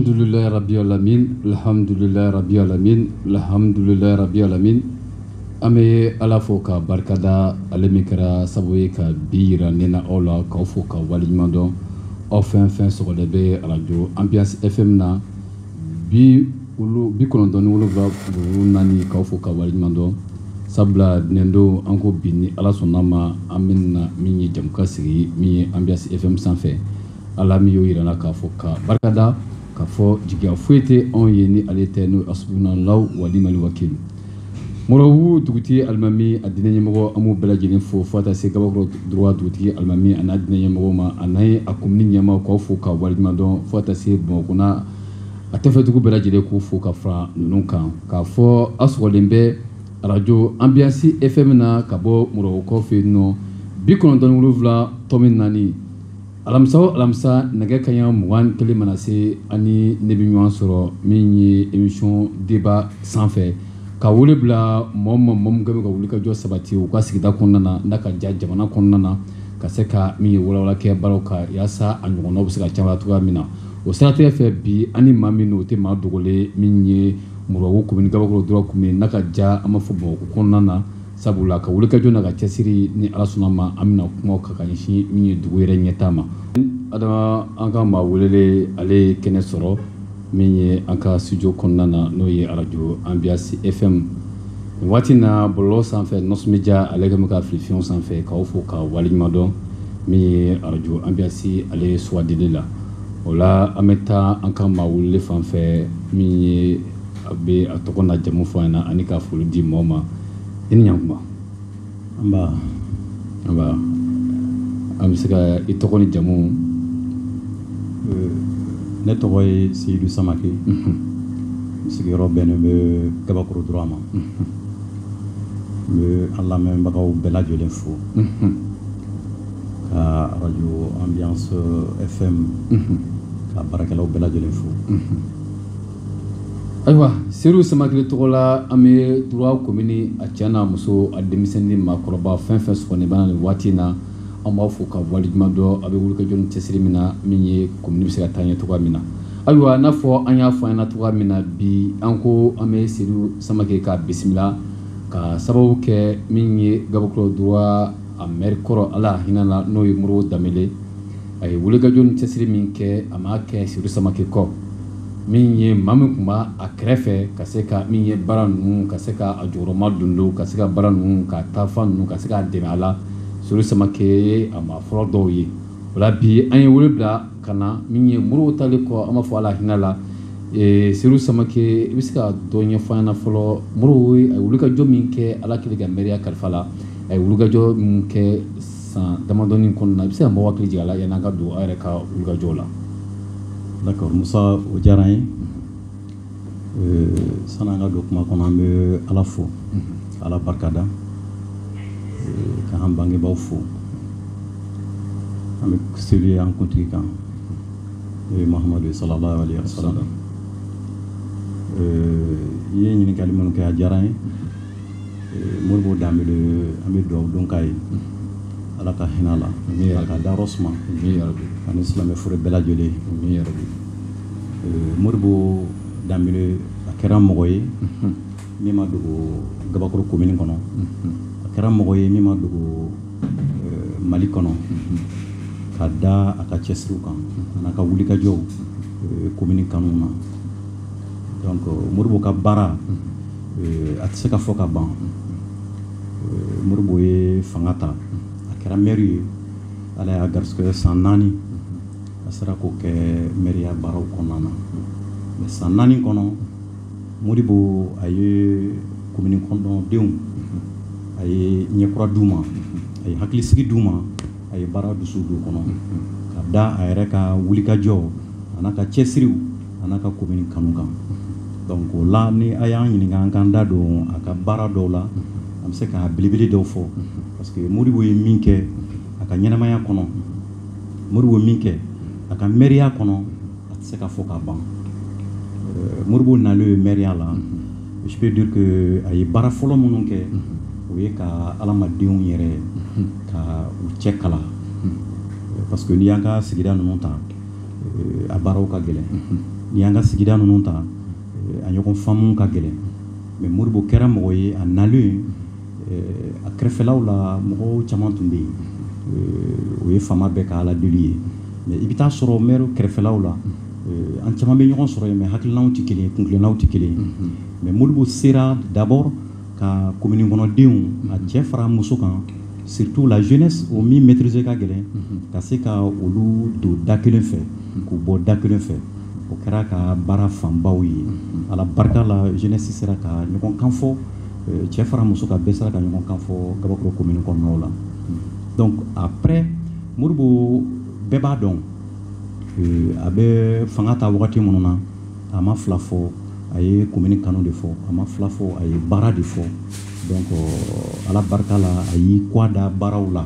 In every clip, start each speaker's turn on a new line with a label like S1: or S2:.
S1: Alhamdulillah Rabbi Alamin, Alhamdulillah Rabbi Alamin, Alhamdulillah Rabbi Alamin. An bɛ Ala fo ka barikada ale min kɛra sababu ye ka bi yira ne na aw la k'aw fo ka waleɲuman dɔn aw fɛn fɛn sɔgɔlen bɛ arajo Ambiance FM na bi kɔnɔntɔn ni wolonwula tɔmi naani k'aw fo ka waleɲuman dɔn sabula diinɛ don an ko bi ni Ala sɔnn'a ma an bɛna min ye jɛmukan sigi min ye Ambiance FM sanfɛ Ala min y'o jira na k'a fo ka barikada k'a fɔ jigiya foyi tɛ anw ye ni ale tɛ n'o Hasbunallahu wa ni'mal wakilu Moribabugu dugutigi alimami a diinɛ ɲɛmɔgɔ an b'u bɛɛ lajɛlen fo fo ka taa se Gabakɔrɔ Droit dugutigi alimami a n'a diinɛ ɲɛmɔgɔ ma a n'a ye a komini ɲɛmaa k'aw fo ka waleɲuman dɔn fo ka taa se Bamakɔ n'a a tɛfɛdugu bɛɛ lajɛlen k'u fo ka fara ninnu kan k'a fɔ a sɔgɔlen bɛ arajo Ambiance FM na ka bɔ Moribabugukaw fɛ yen nɔ bi kɔnɔntɔn wolonwula tɔmi naani alamisa o alamisa nɛgɛ kanɲɛ mugan kelen mana se a ni ne bɛ ɲɔgɔn sɔrɔ min ye émission débat sanfɛ ka wele bila mɔgɔ ma mɔgɔ minnu ka wulikajɔ sabati u ka sigida kɔnɔna na n'a ka ja jamana kɔnɔna na ka se ka min ye walawala kɛ baaraw kan yaasa a ɲɔgɔnnaw bɛ se ka caya cogoya min na o siratigɛ fɛ bi ani maa min o tɛ maa dogolen min ye Moribabugu komini Gabakɔrɔ Droit komini n'a ka ja an b'a fɔ Bamakɔ kɔnɔna na sabula a ka wulikajɔ n'a ka cɛsiri ni ala sɔnna ma an bɛna kuma ka ka ɲɛsin min ye dugu yɛrɛ ɲɛtaa ma adama an ka maa welelen ale ye kɛnɛ sɔrɔ min ye an ka studio kɔnɔna na n'o ye arajo Ambiance FM nin waati na bɔlɔlɔ sanfɛ nɔsɔnbija ale kɛlen bɛ ka fili fiɲɛw sanfɛ k'aw fo ka waleɲuman dɔn min ye arajo Ambiance ale suwandili la o la an bɛ taa an ka maa welelen fan fɛ min ye A bɛ a tɔgɔ n'a jamu fɔ an ɲɛ na ani ka foli di mɔgɔw ma i ni ɲkuma an bɛ se ka i tɔgɔ ni jamu
S2: ne tɔgɔ ye Seyidu Samakɛ sigiyɔrɔ bɛnnen bɛ Gabakɔrɔ Droit ma n bɛ an lamɛnbagaw bɛɛ lajɛlen fo ka arajo Ambiance FM ka baarakɛlaw bɛɛ lajɛlen fo
S1: Ayiwa Seyidu Samakɛ le tɔgɔ la an bɛ Droit komini a cɛ n'a muso a denmisɛn ni maakɔrɔba fɛn fɛn sɔgɔlen bɛ an na nin waati in na an b'a fo ka waleɲuman dɔn a bɛ wulikajɔ ni cɛsiri min na min ye komini bɛ se ka taa ɲɛ cogo min na ayiwa n'a fɔ an y'a fɔ an ɲɛ na cogo min na bi an ko an bɛ Seyidu Samakɛ ka bisimila ka sababu kɛ min ye Gabakɔrɔ Droit a mɛri kɔrɔ Ala hinɛ a la n'o ye Modibo Danbele a ye wulikajɔ ni cɛsiri min kɛ a ma kɛ Seyidu Samakɛ kɔ min ye maa min tun b'a a kɛrɛfɛ ka se ka min ye baara ninnu ka se k'a jɔyɔrɔma don ka se ka baara ninnu ka taafan ninnu ka se k'a dɛmɛ a la Seydou Samakɛ a maa fɔlɔ dɔw ye o la bi an ye wele bila ka na min ye Modibo tali kɔ an b'a fɔ ala hinɛna a la Seydou Samakɛ i bɛ se ka dɔ ɲɛfɔ an ɲɛna fɔlɔ Modibo a ye wulikajɔ min kɛ ala kɛlen ka mɛriya kalifa a la a ye wulikajɔ min kɛ San damadɔ kɔnɔna na i bɛ se ka mɔgɔ hakili jigin a la yanni an ka don aw yɛrɛ ka wulikajɔw
S2: la d'accord musa o diyara n ye san'an ka don kuma kɔnɔ an bɛ ala fo ka ala barikada k'an bangebaw fo an bɛ seli an kuntigi kan n'o ye mahamadu sallallahu alaihi wa sallam i ye ɲininkakali minnu kɛ a diyara n ye Modibo Danbele an bɛ dugawu don k'a ye ala ka hinɛ a la k'a dayɔrɔ suma ani silamɛ fure bɛɛ lajɛlen Modibo Danbele a kɛra mɔgɔ ye min ma dogo Gabakɔrɔ komini kɔnɔ a kɛra mɔgɔ ye min ma dogo mali kɔnɔ ka da a ka cɛsiriw kan a n'a ka wulikajɔw komini kanu na donc Modibo ka baara a tɛ se ka fɔ ka ban Modibo ye fanga ta a kɛra mɛri ye ala y'a garisɛgɛ san naani a sera k'o kɛ mɛriya baaraw kɔnɔna na mɛ san naani kɔnɔ Modibo a ye komini kɔnɔdenw a ye ɲɛkura di u ma a ye hakilisigi di u ma a ye baara dusu don u kɔnɔ ka da a yɛrɛ ka wulikajɔ a n'a ka cɛsiriw A n'a ka commune kanu kan donc o la ni a y'an ɲininka an k'an da don a ka baara dɔw la an bɛ se ka belebele dɔw fɔ parce que Modibo ye min kɛ a ka ɲɛnamaya kɔnɔ Modibo ye min kɛ a ka mɛriya kɔnɔ a tɛ se ka fɔ ka ban euh, Modibo nalen ye mɛriya la je peux dire que a ye baara fɔlɔ minnu kɛ o ye ka adamadenw yɛrɛ ka u cɛ kala parce que n'i y'an ka sigida ninnu ta a baaraw ka gɛlɛn n'i y'an ka sigida ninnu ta a ɲɔgɔn faamu ka gɛlɛn mɛ Modibo kɛra mɔgɔ ye a nalen a kɛrɛfɛlaw la mɔgɔw caman tun bɛ yen o ye faama bɛɛ ka ala deli ye mɛ i bɛ taa sɔrɔ mɛri kɛrɛfɛlaw la an caman bɛ ɲɔgɔn sɔrɔ yen mɛ hakililaw tɛ kelen kuntilennaw tɛ kelen mɛ Modibo sera d'abord ka commune kɔnɔdenw a cɛ fara muso kan surtout la jeunesse o min maîtriser ka gɛlɛn ka se ka olu don da kelen fɛ k'u bɔ da kelen fɛ o kɛra ka baara fanbaw ye ala barika la jeunesse sera ka ɲɔgɔn kan fɔ euh, cɛ fara muso kan bɛɛ sera ka ɲɔgɔn kan fɔ gabakoro commune kɔnɔnaw la donc après modibo bɛɛ b'a dɔn euh, a bɛ fanga ta wagati minnu na a ma fila fɔ a ye commune kanu de fɔ a ma fila fɔ a ye baara de fɔ donc euh, ala barika la a y'i kɔ da baaraw la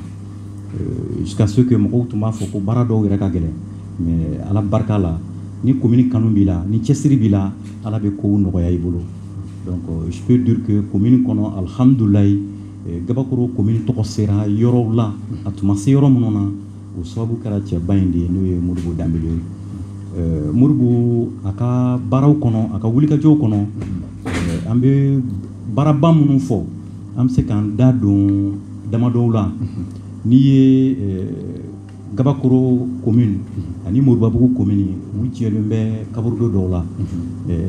S2: euh, jusqu'à ce que mɔgɔw tun b'a fɔ ko baara dɔw yɛrɛ ka gɛlɛn mais ala barika la ni commune kanu b'i la ni cɛsiri b'i la ala bɛ kow nɔgɔya i bolo donc euh, je peux dire que commune kɔnɔ alhamdulayi gabakoro commune tɔgɔ sera yɔrɔw la a tun ma se yɔrɔ minnu na o sababu kɛra cɛba in de ye n'o ye modibo danbele ye modibo a ka baaraw kɔnɔ a ka wulikajɔw kɔnɔ an bɛ baaraba minnu fɔ an bɛ se k'an da don damadɔw la n'i ye gabakoro commune ani moribabugu commune u jɛlen bɛ kaburudo dɔw la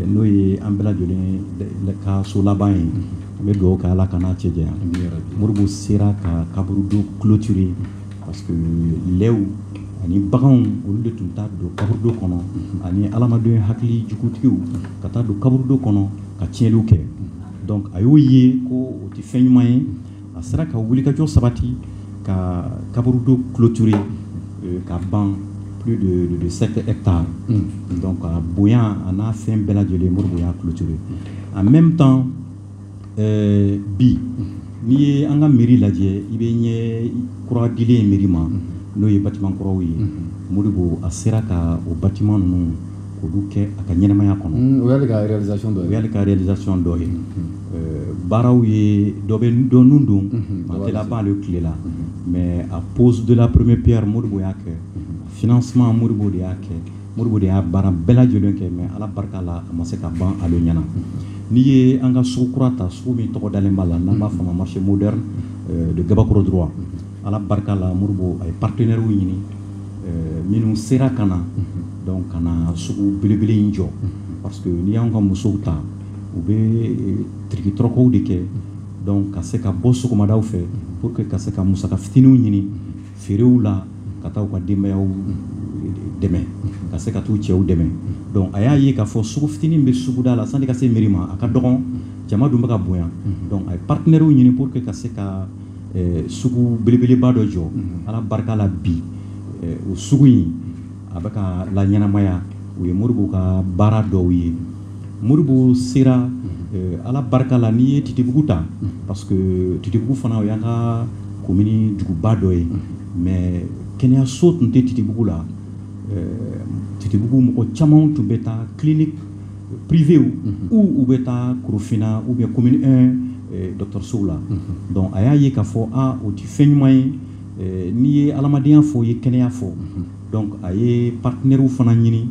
S2: n'o ye an bɛɛ lajɛlen ka so laban ye an bɛ dugawu kɛ ala k'a n'an cɛ janya modibo sera ka kaburudo clôturer parce que lɛw ani baganw olu de tun taa don kaburudo kɔnɔ ani adamaden hakili jugutigiw ka taa don kaburudo kɔnɔ ka tiɲɛliw kɛ donc a y'o ye ko o tɛ fɛn ɲuman ye a sera ka wulikajɔ sabati ka kaburudo clôturer euh, ka ban plus de, de, de 7 hectares mm. donc a bonya a n'a fɛn bɛɛ lajɛlen modibo y'a clôturer en même temps ɛɛ bi n'i ye an ka mairie lajɛ i bɛ ɲɛ kura dilen ye mairie ma n'o ye bâtiment kuraw ye modibo a sera ka o bâtiment ninnu k'olu kɛ a ka ɲɛnamaya kɔnɔ mm, o y'ale ka réalisation
S1: dɔ ye o y'ale ka réalisation
S2: dɔ ye mm-hmm. baaraw ye dɔ bɛ dɔ nun don mm-hmm. a tɛ laban ale tile la mm-hmm. mais a pose de la première pierre modibo y'a kɛ financement modibo de y'a kɛ modibo de y'a baara bɛɛ lajɛlen kɛ mais ala barika la a ma se ka ban ale ɲɛna n'i ye an ka sugu kura ta sugu min tɔgɔ dalen b'a la n'an b'a fɔ ma marché moderne de gabakoro droit ala barika la modibo a ye partenaires ɲini minnu sera ka na ka na sugu belebele in jɔ parce que n'i y'an ka musow ta u bɛ tirikitɔrɔkɔw de kɛ donc ka se ka bɔ sɔgɔmadaw fɛ pour que ka se ka musaka fitininw ɲini feerew la ka taa u ka denbayaw dɛmɛ ka se ka taa u cɛw dɛmɛ donc a y'a ye k'a fɔ sugu fitinin bɛ suguda la sani ka se mairie ma a ka dɔgɔn jama dun bɛ ka bonya donc a ye partenaires ɲini pour que ka se ka sugu belebeleba dɔ jɔ ala barika la bi o sugu in A bɛ ka laɲɛnamaya o ye moribo ka baara dɔw ye moribo sera ala barika la n'i ye titibugu ta parce que titibugu fana o y'an ka komini duguba dɔ ye mais kɛnɛyaso tun tɛ titibugu la titibugu mɔgɔ caman tun bɛ taa clinique privéew ou u bɛ taa korofina ou bien commune un dɔgɔtɔrɔsow la donc a y'a ye k'a fɔ o tɛ fɛn ɲuman ye N'i ye adamadenya fɔ i ye kɛnɛya fɔ donc a ye partenairew fana ɲini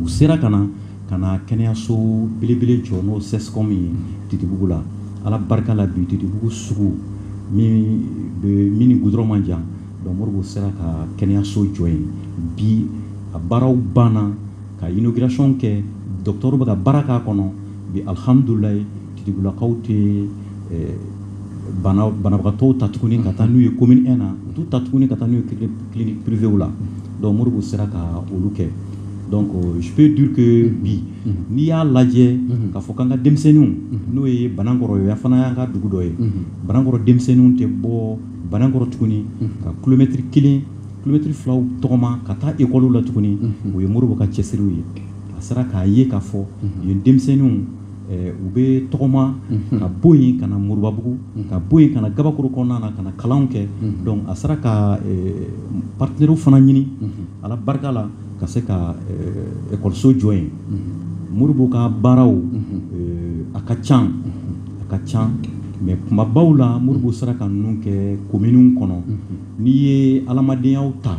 S2: u sera ka na ka na kɛnɛyaso belebele jɔ n'o CSCOM ye titibugu la ala barika la bi titibugu sugu min ni goudron man jan donc moribo sera ka kɛnɛyaso jɔ yen bi a baaraw banna ka inauguration kɛ docteur bɛ ka baara k'a kɔnɔ bi alihamdulilahi Titibulakaw tɛ banabagatɔw ta tuguni ka taa n'u ye commune un na u t'u ta tuguni ka taa n'u ye clinique privéew la donc moribo sera ka olu kɛ donc je peux dire que bi n'i y'a lajɛ k'a fɔ k'an ka denmisɛnninw n'o ye banankɔrɔ ye fana y'an ka dugu dɔ ye banankɔrɔ denmisɛnninw tɛ bɔ banankɔrɔ tuguni ka kilomɛtiri kelen kilomɛtiri fila tɔgɔma ka taa ekɔli la tuguni o ye moribo ka cɛsiriw ye a sera k'a ye k'a fɔ yen denmisɛnninw u bɛ tɔgɔma ka bɔ yen ka na moribabugu ka bɔ yen ka na gabakoro kɔnɔna na ka na kalan kɛ donc a sera ka partenairew fana ɲini ala barika la ka se ka ekɔliso jɔ yen moribo ka baaraw a ka ca a ka ca mais kumabaw la moribo sera ka ninnu kɛ kominiw kɔnɔ n'i ye adamadenya ta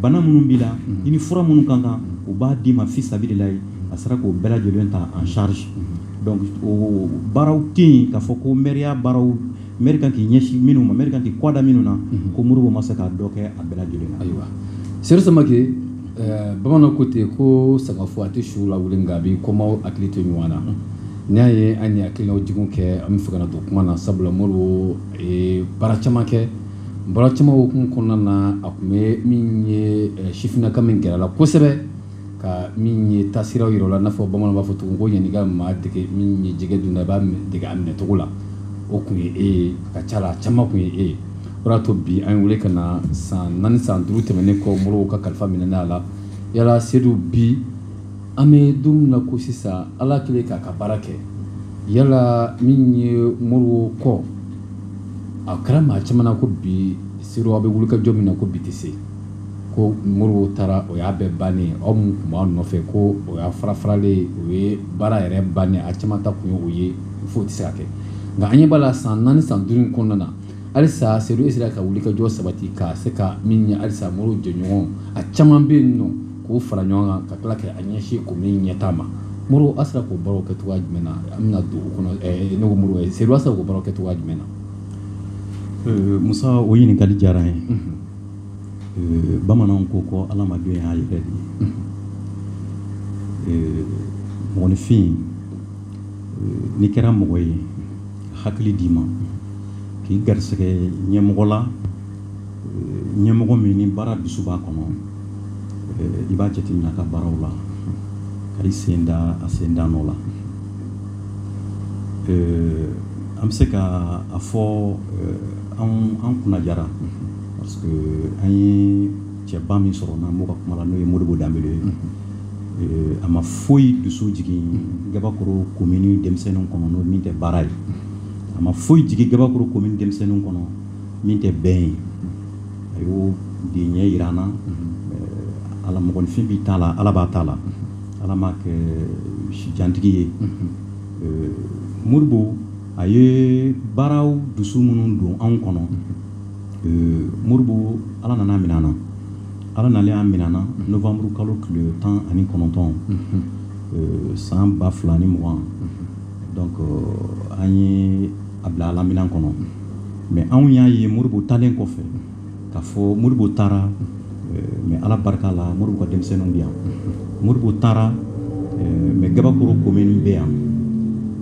S2: bana minnu b'i la i ni fura minnu kan kan u b'a d'i ma fi sabililahi a sera k'o bɛɛ lajɛlen ta en charge donc o baaraw tɛ yen k'a fɔ ko mɛriya baaraw mɛri kan k'i ɲɛsin minnu ma mɛri kan k'i kɔda minnu na ko Moribo ma se ka dɔ kɛ a bɛɛ lajɛlen na ayiwa
S1: Seydou Samake eh, bamananw ko ten ko sagafo a tɛ su lawuli nka a bɛ kɔmaw hakili to ɲɔgɔn na n'i y'a ye an ye hakilinaw jiginw kɛ an bɛ fɛ ka na don kuma na sabula Moribo ye baara caman kɛ Baara caman hukumu kɔnɔna na a tun bɛ min ye sifinnaka min gɛrɛ la kosɛbɛ ka min ye taasira yira o la i n'a fɔ bamanan b'a fɔ cogo ko yanni i ka maa dege min ye jɛgɛ dun na i b'a dege a minɛcogo la o tun ye e ye a ka ca la a caman tun ye e ye o y'a to bi an y'e weele ka na san naani san duuru tɛmɛnen kɔ moribo ka kalifa minɛnen a la yala Seydou bi an bɛ don min na ko sisan ala kɛlen k'a ka baara kɛ yala min ye moribo kɔ a kɛra maa caman na ko bi Seyidu a bɛ wulikajɔ min na ko bi tɛ se ko Modibo taara o y'a bɛɛ bannen aw min tun b'a nɔfɛ ko o y'a fara faralen o ye baara yɛrɛ bannen a caman ta tun ye o ye fo tɛ se ka kɛ nka an ɲɛ b'a la san naani san duuru kɔnɔna na halisa Seyidu sera ka wulikajɔ sabati ka se ka min ye halisa Modibo jɛɲɔgɔn a caman bɛ yen nɔ k'o fara ɲɔgɔn kan ka tila ka a ɲɛsin komini ɲɛtaa ma Modibo a sera k'o baaraw kɛ cogoya jumɛn na an bɛna don o kɔnɔ eh, ne ko Modibo eh, Seyidu a sera k'o baaraw kɛ cogoya jumɛn na eh, musa o
S2: ɲininkali diyara n ye mhm. bamananw ko ko adamaden y'a yɛrɛ de ye mhm. mɔgɔninfin n'i kɛra mɔgɔ ye hakili d'i ma k'i garisɛgɛ ɲɛmɔgɔ la ɲɛmɔgɔ min ni baara dusu b'a kɔnɔ i b'a jateminɛ ka baaraw la ka i sen da a sen da nɔ la an bɛ se ka a fɔ an kunna diyara parce que an ye cɛba min sɔrɔ n'an b'o ka kuma la n'o ye Modibo Danbele ye Eh, a ma foyi dusu jigin gabakoro komini denmisɛnninw kɔnɔ n'o min tɛ baara ye a ma foyi jigin gabakoro komini denmisɛnninw kɔnɔ min tɛ bɛn ye a y'o de ɲɛ jira an na ala mɔgɔninfin b'i ta la ala b'a ta la ala m'a kɛ sijantigi ye Modibo a ye baaraw dusu minnu don anw kɔnɔ Modibo ala nana a minɛ an na ala nalen y'a minɛ an na nowanburu kalo tile tan ani kɔnɔntɔn san ba fila ni mugan donc an ye a bila ala minɛn kɔnɔ mais anw y'a ye Modibo taalen kɔfɛ k'a fɔ Modibo taara eh, mais ala barika la Modibo ka denmisɛnninw bɛ yan Modibo taara eh, mais gabakoro komini bɛ yan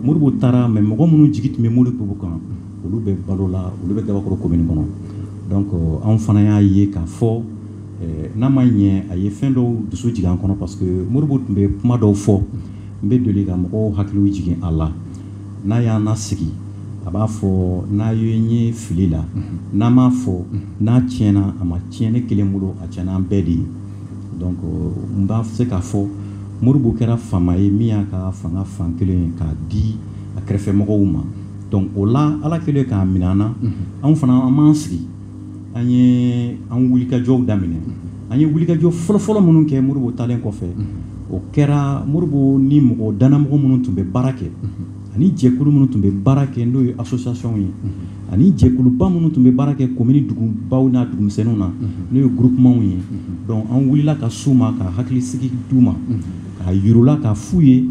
S2: Modibo taara mais mɔgɔ minnu jigi tun bɛ Modibo kan olu bɛ balo la olu bɛ gabakoro komini kɔnɔ donc eh, anw fana y'a ye k'a fɔ n'a ma ɲɛ a ye fɛn dɔw dusu jigin an kɔnɔ parce que Modibo tun bɛ kuma dɔw fɔ n bɛ deli ka mɔgɔw hakiliw jigin a la n'a y'an lasigi a b'a fɔ n'a ye n ye fili la n'a m'a fɔ n'a tiɲɛna a ma tiɲɛ ne kelen bolo a tiɲɛna an bɛɛ de ye donc n bɛ se k'a fɔ Modibo kɛra faama ye min y'a ka fanga fan kelen ye k'a di a kɛrɛfɛmɔgɔw ma donc o la ala kɛlen k'a minɛ an na anw fana an m'an sigi an ye an wulikajɔw daminɛ an ye wulikajɔ fɔlɔfɔlɔ minnu kɛ moribo taalen kɔfɛ o kɛra moribo ni mɔgɔ dannamɔgɔ minnu tun bɛ baara kɛ ani jɛkulu minnu tun bɛ baara kɛ n'o ye associationw ye ani jɛkuluba minnu tun bɛ baara kɛ komini dugubaw n'a dugumisɛnninw na n'o ye groupementw ye donc an wulila ka s'u ma ka hakilisigi d'u ma k'a yir'u la k'a f'u ye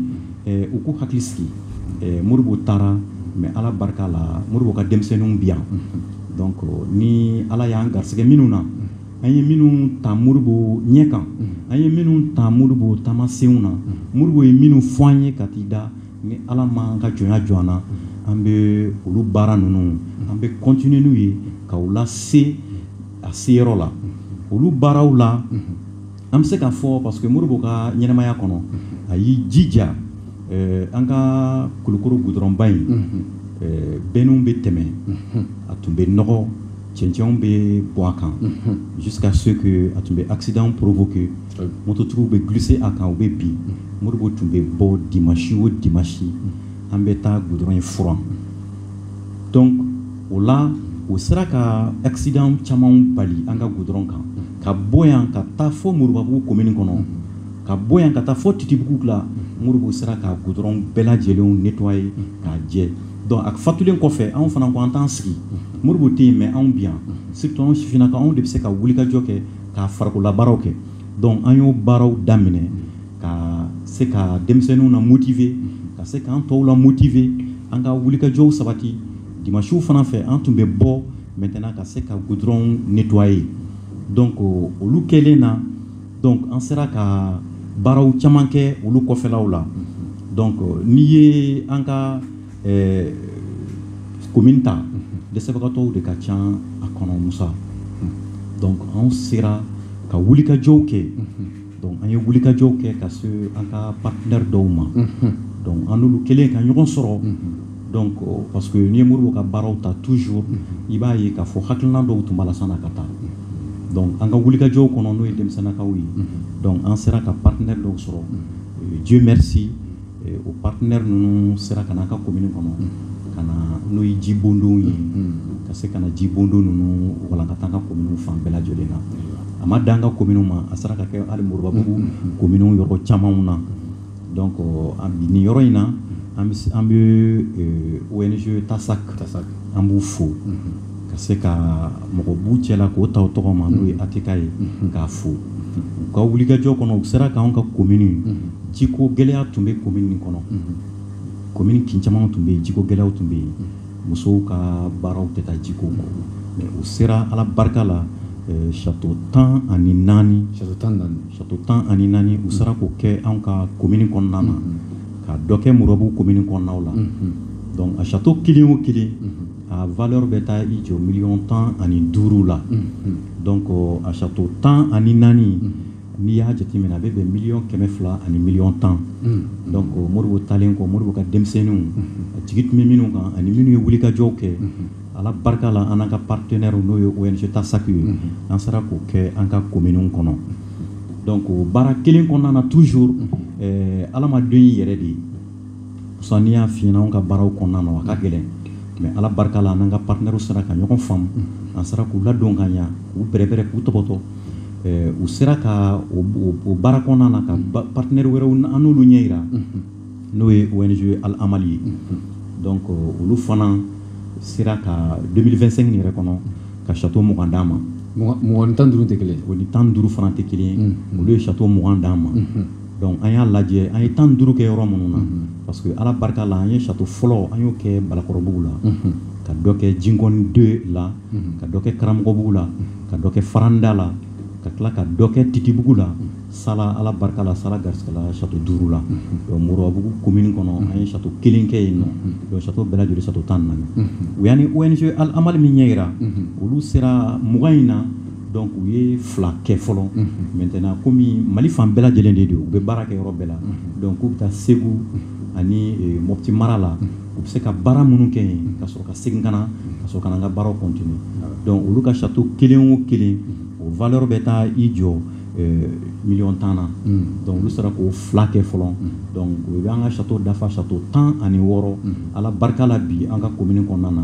S2: u k'u hakili sigi moribo taara mais ala barika la moribo ka denmisɛnninw bi yan Donc ni Ala y'an garisɛgɛ minnu na, an ye minnu ta Moribo ɲɛ kan, an ye minnu ta Moribo taamasenw na, Moribo ye minnu fɔ an ye ka t'i da, ni Ala ma an ka jɔnya jɔ an na, an bɛ olu baara ninnu, an bɛ continuer n'u ye ka u lase a seyɔrɔ la, olu baaraw la an bɛ se k'a fɔ parce que moribo ka ɲɛnamaya kɔnɔ a y'i jija eh, an ka kulukoro gudɔrɔnba in eh, bɛnniw bɛ tɛmɛ a tun bɛ nɔgɔ cɛncɛnw bɛ bɔ a kan jusqu'à ce que a tun bɛ accident provoquer mototigiw bɛ glisser a kan u bɛ bin moribo tun bɛ bɔ dimanche o dimanche an bɛ taa gudɔrɔn in furan donc o la o sera ka accident caman bali an ka gudɔrɔn kan ka bɔ yan ka taa fo moribabugu komini kɔnɔ ka bɔ yan ka taa fo titibugu la moribo sera ka gudɔrɔn bɛɛ lajɛlenw nettoyer k'a jɛ donc a fatulen kɔfɛ anw fana ko an t'an sigi moribo tɛ yen mais anw bi yan surtout anw sifinnakaw anw de bɛ se ka wulikajɔ kɛ ka farikololabaaraw kɛ donc an y'o baaraw daminɛ ka se ka denmisɛnninw na motiver ka se k'an tɔw la motiver an ka wulikajɔw sabati dimansiw fana fɛ an tun bɛ bɔ maintenant ka se ka gudɔrɔn nettoyer donc olu kɛlen na donc an sera ka baaraw caman kɛ olu kɔfɛlaw la donc n'i ye an ka komini ta dɛsɛbagatɔw de ka ca a kɔnɔ musa donc an sera ka wulikajɔw kɛ Donc an ye wulikajɔw kɛ ka se an ka partenaire dɔw ma donc an n'olu kɛlen ka ɲɔgɔn sɔrɔ donc parce que n'i ye Moribo ka baaraw ta toujours i b'a ye k'a fɔ hakilina dɔw tun b'a la sann'a ka taa donc an ka wulikajɔw kɔnɔ n'o ye denmisɛnnakaw ye donc an sera ka partenaire dɔw sɔrɔ Dieu merci o partenaire ninnu sera ka na an ka komini kɔnɔ ka na n'o ye jibondonw ye ka se ka na jibondon ninnu walankata an ka komini fan bɛɛ lajɛlen na a ma dan an ka komini ma a sera ka kɛ hali moribabugu komini yɔrɔ camanw na donc nin yɔrɔ in na an bɛ ONG TASAC an b'u fo ka se ka mɔgɔ b'u cɛla k'o ta tɔgɔ ma n'o ye ATK ye k'a fo u ka wulikajɔ kɔnɔ u sera k'anw ka komini jiko gɛlɛya tun bɛ komini nin kɔnɔ komini kin caman tun bɛ yen jiko gɛlɛyaw tun bɛ yen musow ka baaraw tɛ taa jiko kɔ mɛ u sera ala barika la sato tan ani naani u sera k'o kɛ anw ka komini kɔnɔna na ka dɔ kɛ moribabugu komini kɔnɔnaw la dɔnku a sato kelen o kelen A valeur bɛ taa i jɔ miliyɔn tan ani duuru la dɔnku a sato tan ani naani n'i y'a jateminɛ a bɛ bɛn miliyɔn kɛmɛ fila ani miliyɔn tan dɔnku Modibo taalen kɔ Modibo ka denmisɛnninw a jigi tun bɛ minnu kan ani minnu ye wulikajɔw kɛ ala barika la an n'an ka partenaires n'o ye ONG Tasaki ye an sera k'o kɛ an ka komini kɔnɔ dɔnku o baara kelen kɔnɔna na toujours ala ma don i yɛrɛ de ye parce que n'i y'a f'i ɲɛna anw ka baaraw kɔnɔna na a ka gɛlɛn mais Ala barika la an n'an ka partenaires sera ka ɲɔgɔn faamu an sera k'u ladon ka ɲa k'u bɛrɛbɛrɛ k'u tɔbɔtɔ eh, u sera ka o baara kɔnɔna na ka partenaires wɛrɛw an n'olu ɲɛ yira n'o ye ONG Al Amal ye donc euh, olu fana sera ka 2025 yɛrɛ kɔnɔ ka château mugan d'an ma mugan ni tan duuru
S1: tɛ kelen o ni tan duuru fana tɛ
S2: kelen ye olu ye château mugan d'an ma dɔnku an y'a lajɛ an ye tan duuru kɛ yɔrɔ minnu na parce que ala barika la an ye sato fɔlɔ an y'o kɛ balakɔrɔbugu la ka dɔ kɛ jinkɔni deux la ka dɔ kɛ karamɔgɔbugu la ka dɔ kɛ faranda la ka tila ka dɔ kɛ titibugu la sala ala barika la sala garisigɛla sato duuru la moribabugu komini kɔnɔ an ye sato kelen kɛ yen nɔ sato bɛɛ lajɛlen sato tan naani u y'an ni ONG Al Amal min ɲɛ yira olu sera mugan in na Dɔnku u ye fila kɛ fɔlɔ maintenant kɔmi mali fan bɛɛ lajɛlen de don u bɛ baara kɛ yɔrɔ bɛɛ la dɔnku u bɛ taa segu ani Mopti mara la u bɛ se ka baara minnu kɛ yen ka sɔrɔ ka segin ka na ka sɔrɔ ka na an ka baaraw kɔntine dɔnku olu ka sato kelen o kelen o valeur bɛ taa i jɔ miliyɔn tan na dɔnku olu sera k'o fila kɛ fɔlɔ dɔnku u bɛ an ka sato dafa sato tan ani wɔɔrɔ ala barika la bi an ka komini kɔnɔna na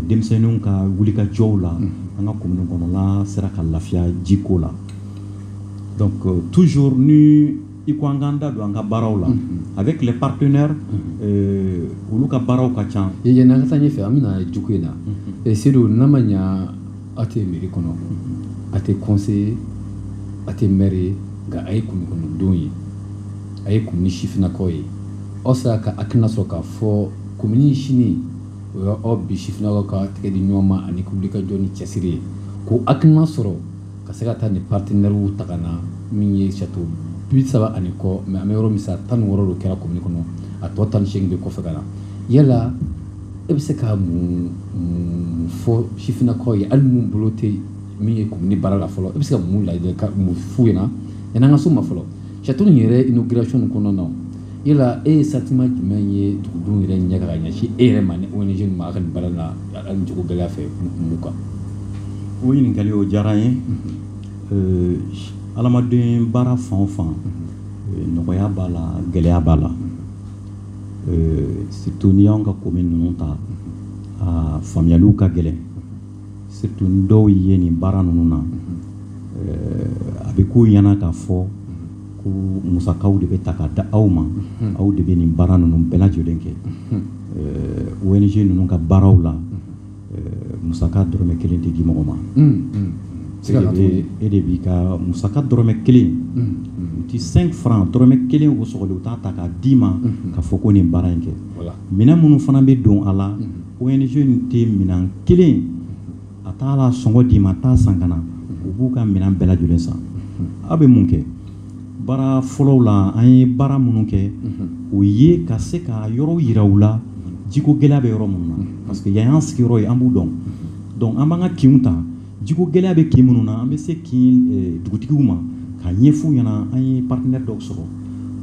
S2: denmisɛnnin ka wuli ka jɔw la an ka kolon kɔnɔla sera ka lafiya jiko la tu ni i ko an kanan da don an ka baaraw la a bɛ tile pakɛ olu ka baaraw ka ca ɲ ansa fɛ an
S1: bɛ jugu in na ɛ se n'a ma ɲɛ aw tɛ miiri kɔnɔ a tɛ kɔse a tɛ m ye nka a ye kundon ye a ye kun ni sifininakaw ye aw sera ka a tɛna sɔrɔ k'a fɔ ko sini o ye aw bi sifinnakaw ka tɛgɛ di ɲɔgɔn ma ani wulikajɔ ni cɛsiri ye k'o hakilina sɔrɔ ka se ka taa ni partenaires ta na min ye château bi saba ani kɔ mais an bɛ yɔrɔ min sa tan ni wɔɔrɔ kɛra commune kɔnɔ a tɔ tan ni seegin bɛ kɔfɛ ka na yala e bɛ se ka mun fɔ sifinnakaw ye hali minnu bolo tɛ min ye commune baara la fɔlɔ e bɛ se ka mun lajɛ ka mun f'u ɲɛna yanni an ka s'o ma fɔlɔ Château in yɛrɛ inauguration in kɔnɔna na yala e ye sentiment jumɛn ye dugudenw yɛrɛ ɲɛ ka ɲɛsin e yɛrɛ ma ni ONG in ma a ka nin baara la ani jiko gɛlɛya fɛ mun kan o
S2: ɲininkakali o diyara n ye adamaden baara fan o fan nɔgɔya b'a la gɛlɛya b'a la surtout n'i y'an ka commune ninnu ta a faamuyaliw ka gɛlɛn surtout dɔw ye nin baara ninnu na a bɛ k'u ɲɛna k'a fɔ ko musakaw de bɛ ta ka da aw ma aw de bɛ nin baara ninnu bɛɛ lajɛlen kɛ ONG ninnu ka baaraw la musaka dɔrɔmɛ kelen tɛ di mɔgɔ ma e de b'i ka musaka dɔrɔmɛ kelen u tɛ cinq francs dɔrɔmɛ kelen o sɔgɔlen u t'a ta k'a d'i ma k'a fɔ ko nin baara in kɛ minɛn minnu fana bɛ don a la ONG in tɛ minɛn kelen a t'a la sɔngɔ d'i ma t'a san ka na u b'u ka minɛn bɛɛ lajɛlen san aw bɛ mun kɛ baara fɔlɔw la an ye baara minnu kɛ o ye ka se ka yɔrɔw yira u la jiko gɛlɛya bɛ yɔrɔ minnu na parce que yan y'an sigiyɔrɔ ye an b'u dɔn donc an b'an ka kinw ta Jiko gɛlɛya bɛ kin minnu na an bɛ se kin dugutigiw ma k'a ɲɛf'u ɲɛna an ye partenaire dɔw sɔrɔ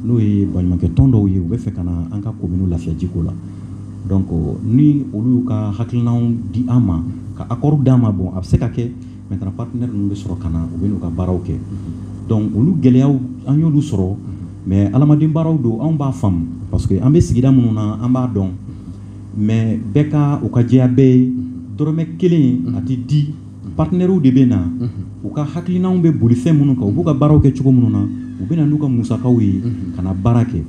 S2: n'o ye baɲumankɛ tɔn dɔw ye u bɛ fɛ ka na an ka commune lafiya jiko la donc ni olu y'u ka hakilinaw di an ma ka accord d'an ma bon a bɛ se ka kɛ maintenant partenaire ninnu bɛ sɔrɔ ka na u bɛ n'u ka baaraw kɛ donc olu gɛlɛya an y'olu sɔrɔ mais adamaden baaraw don anw b'a faamu parce que an bɛ sigida minnu na an b'a dɔn mais bɛɛ ka o ka jɛya bɛɛ ye dɔrɔmɛ kelen a tɛ di partenaires de bɛ na u ka hakilinaw bɛ boli fɛn minnu kan u b'u ka baaraw kɛ cogo minnu na u bɛ na n'u ka musakaw ye ka na baara kɛ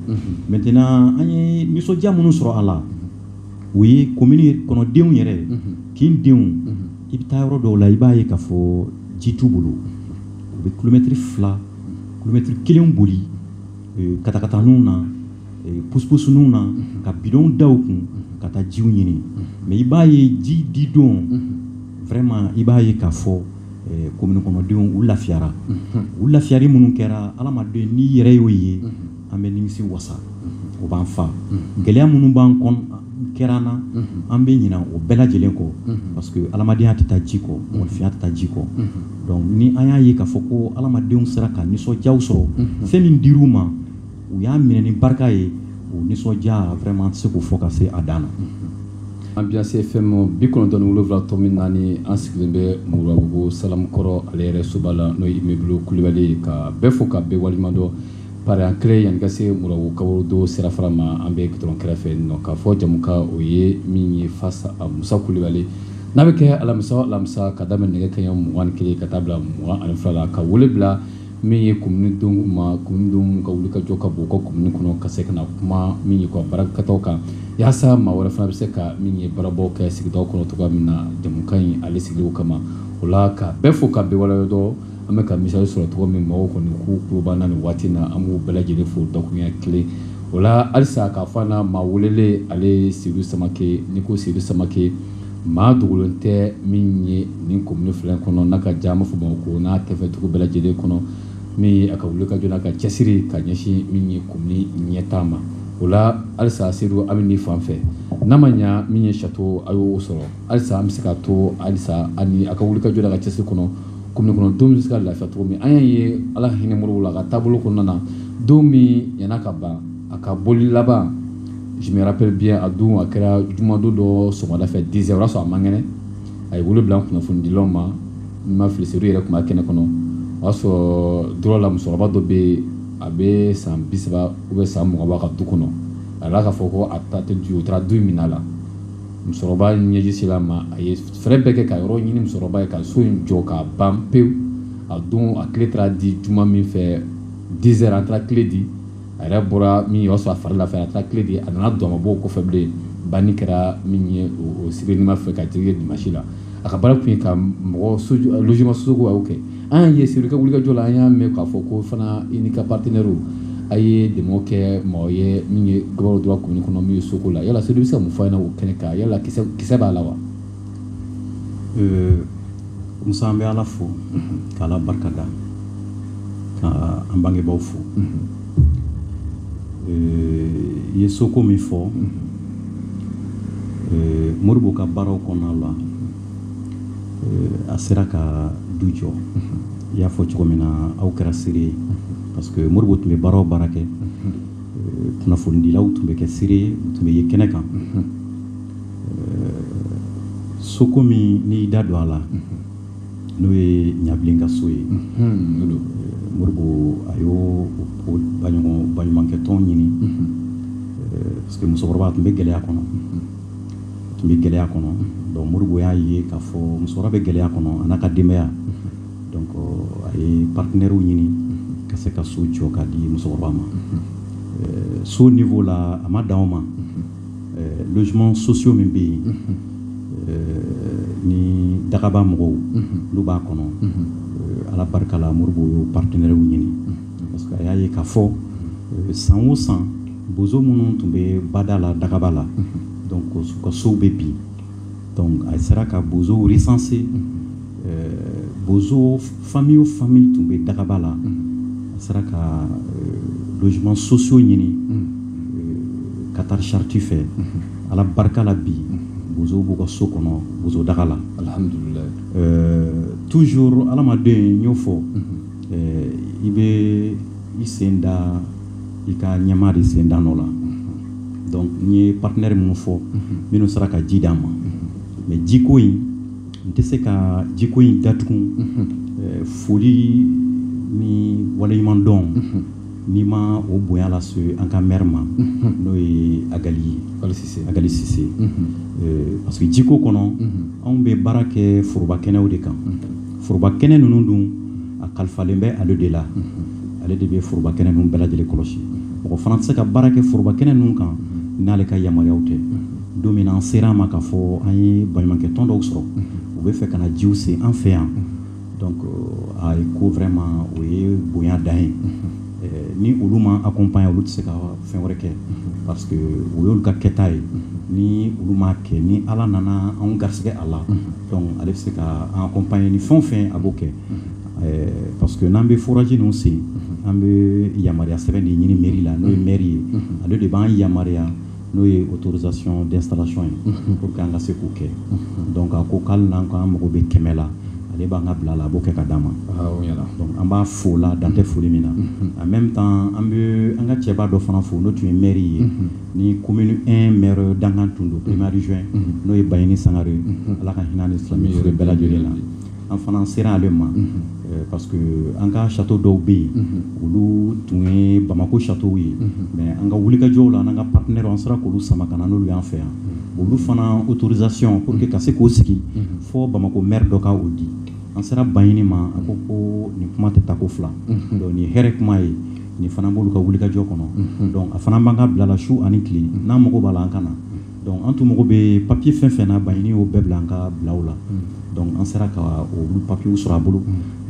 S2: maintenant an ye nisɔndiya minnu sɔrɔ a la o ye commune kɔnɔdenw yɛrɛ kin denw i bɛ taa yɔrɔ dɔw la i b'a ye k'a fɔ ji t'u bolo u bɛ kilomɛtiri fila kilomɛtiri kelen boli katakataninw na puspusninw na ka bidonw da u kun ka taa jiw ɲini mais i b'a ye ji di don vraiment i b'a ye k'a fɔ commune kɔnɔdenw u lafiyara u lafiyari minnu kɛra adamaden n'i yɛrɛ y'o ye an bɛ nimisi wasa o b'an fa gɛlɛya minnu b'an kɛra an na an bɛ ɲina o bɛɛ lajɛlen kɔ parce que adamadenya tɛ taa ji kɔ mɔgɔninfinya tɛ taa ji kɔ donc ni an y'a ye k'a fɔ ko adamadenw sera ka nisɔndiya sɔrɔ fɛn min dir'u ma u y'a minɛ ni barika ye o nisɔndiya vraiment an tɛ se k'o fɔ ka se a dan na.
S1: Ambiance FM bi kɔnɔntɔn ni wolonwula tɔmi naani an sigilen bɛ Moribabugu Salamukɔrɔ ale yɛrɛ soba la n'o ye immeuble Kulibali ye ka bɛɛ fo ka bɛɛ waleɲumandɔn pari an kelen yanni ka se Moribabugu kaburudo sirafara ma an bɛ gudɔrɔn kɛrɛfɛ nin nɔ k'a fɔ jamukan o ye min ye face à Musa Kulibali n'a bɛ kɛ alamisa o alamisa ka daminɛ nɛgɛ kanɲɛ mugan ni kelen ka taa bila mugan ani fila la ka wele bila min ye commune denw ma commune denw ka wuli ka jɔ ka bɔ u ka commune kɔnɔ ka se ka na kuma min ye u ka baarakɛtaw kan yaasa maa wɛrɛ fana bɛ se ka min ye baarabaw kɛ sigida kɔnɔ cogo min na jamukan in ale sigilen o kama o la ka bɛɛ fo ka bɛɛ waleɲumandɔn an bɛ ka misali sɔrɔ cogo min mɔgɔw kɔni k'u tulo b'an na nin waati in na an b'u bɛɛ lajɛlen fo dakuruɲɛ kelen o la halisa k'a fɔ an na maa welelen ale Seyidu Samakɛ n'i ko Seyidu Samakɛ maa dogolen tɛ min ye nin commune fila in kɔnɔ n'a ka jan an b'a fɔ Bamakɔ n'a tɛfɛduguw bɛɛ lajɛlen kɔnɔ min a ka wuli ka jɔ n'a ka cɛsiri ka ɲɛsin min ye commune ɲɛtaa ma o la halisa Seyidu an bɛ nin fan fɛ n'a ma ɲɛ min ye sato a y'o sɔrɔ halisa an bɛ se ka to halisa ani a ka wuli ka jɔ ka cɛsiri kɔnɔ commune kɔnɔ don bɛ se ka lafiya cogo min an y'a ye Ala hinɛ Moribo la a ka taabolo kɔnɔna na don min yann'a ka ban a ka bɔli laban je me rappelle bien a don a kɛra jumadon dɔ sɔgɔmada fɛ dix heures o y'a sɔrɔ a man kɛnɛ a ye wele bila kunnafonidilaw ma n ma fili Seyidu yɛrɛ tun bɛ kɛnɛ kɔnɔ o y'a sɔrɔ Droit la musokɔrɔba dɔ bɛ yen a bɛ san bi saba ou bien san mugan b'a ka du kɔnɔ a yɛrɛ k'a fɔ ko a ta tɛ du u taara du min la musokɔrɔba ɲɛji sera a ma a ye fɛɛrɛ bɛɛ kɛ ka yɔrɔ ɲini musokɔrɔba ye ka so in jɔ ka ban pewu a don a kile taara di juma min fɛ dix heures an taara kile di a yɛrɛ bɔra min o y'a sɔrɔ a fari lafiya a taara kile di a nana don a ma bɔ o kɔfɛ bilen banni kɛra min ye o sibiri nima fɛ ka jigin dimasi la a ka baara tun ye ka mɔgɔ logement soko a y'o kɛ an y'a ye Seyidu ka wulikajɔ la an y'a mɛn k'a fɔ ko fana i n'i ka partenaires a ye dɛmɛ kɛ mɔgɔ ye min ye Ngabakɔrɔ Droit commune kɔnɔ min ye soko la yala Seyidu bɛ se ka mun fɔ an ɲɛna o kɛnɛ kan yala kisɛ b'a la wa
S2: Musa an bɛ Ala fo k'Ala barikada ka an bangebaaw fo i ye soko min fɔ Moribo ka baaraw kɔnɔna la a sera ka du jɔ i y'a fɔ cogo min na aw kɛra seere ye parce que Moribo tun bɛ baara o baara kɛ kunnafonidilaw tun bɛ kɛ seere ye u tun bɛ yen kɛnɛ kan soko min n'i da don a la n'o ye ɲabilen ka so ye modibo a y'o baɲumankɛtɔn ɲini parce que musokɔrɔba tun bɛ gɛlɛya kɔnɔ tun bɛ gɛlɛya kɔnɔ donc modibo y'a ye k'a fɔ musokɔrɔba bɛ gɛlɛya kɔnɔ a n'a ka denbaya donc a ye partenaires ɲini ka se ka so jɔ ka di musokɔrɔba ma so niveau la a ma dan o ma logements sociaux min bɛ yen ni dagaba mɔgɔw olu b'a kɔnɔ ala barika la modibo y'o partenaires ɲini parce que a y'a ye k'a fɔ san o san bozo minnu tun bɛ bada la dagaba la donc u ka sow bɛ bin a sera ka bozo sanse bozo fa o fa tun bɛ dagaba la a sera ka donsoman soso ɲini ka taa sariti fɛ ala barika la bi bozo b'u ka so kɔnɔ bozo daga la tu aladen y'o fɔ i bɛ i senda i ka ɲɛmaa de sen da nɔ la donc n ye partenaire minnu fɔ minnu sera ka ji d'an ma mais jiko in n tɛ se ka jiko in datugu eh, foli ni waleɲuman dɔn ni n ma o bonya lase an ka maire ma n'o ye agali ye agali sise eh, parce que jiko kɔnɔ anw bɛ baara kɛ foroba kɛnɛw de kan foroba kɛnɛ ninnu dun a kalifalen bɛ ale de la ale de bɛ foroba kɛnɛ ninnu bɛɛ lajɛlen kɔlɔsi mɔgɔ fana tɛ se ka baara kɛ foroba kɛnɛ ninnu kan n'ale ka yamaruyaw tɛ don min an sera a ma k'a fɔ an ye baɲumankɛ tɔn dɔw sɔrɔ u bɛ fɛ ka na jiw se an fɛ yan donc euh, a ye ko vraiment o ye bonya dan ye euh, ni olu m'an accompagner olu tɛ se ka fɛn wɛrɛ kɛ parce que o y'olu ka kɛta ye ni olu m'a kɛ ni ala nana anw garisɛgɛ a la Donc ale bɛ se ka an accompagner ni fɛn o fɛn a b'o kɛ ɛɛ parce que n'an bɛ forage ninnu sen an bɛ yamaruya sɛbɛn de ɲini mairie la n'o ye maire ye ale de b'an yamaruya n'o ye autorisation d'installation ye pour que an ka se k'o kɛ donc a ko k'ale n'an k'an mago bɛ kɛmɛ la ale b'an ka bila la a b'o kɛ ka d'an ma donc an b'a fo la dan tɛ foli min na en même temps an bɛ an ka cɛba dɔ fana fo n'o tun ye maire ye ni commune un maire dankan tun don premier adjoint n'o ye baɲini sangare ye ala ka hinɛ ni silamɛ fure bɛɛ lajɛlen na an fana sera ale ma parce que an ka château dɔw bɛ yen olu tun ye bamakɔ châteaux ye mais an ka wulikajɔw la n'an ka partenaire an sera k'olu sama ka na n'olu y'an fɛ yan olu fana autorisation pour que ka se k'o sigi fo bamakɔ maire dɔ ka o di an sera baɲini ma a ko ko nin kuma tɛ taa ko fila donc nin hɛrɛ kuma ye nin fana b'olu ka wulikajɔ kɔnɔ donc a fana b'an ka bila la su ani tile n'an mago b'a la an ka na donc an tun mago bɛ papiye fɛn fɛn na baɲini y'o bɛɛ bila an ka bilaw la donc an sera ka olu papiyew sɔrɔ a bolo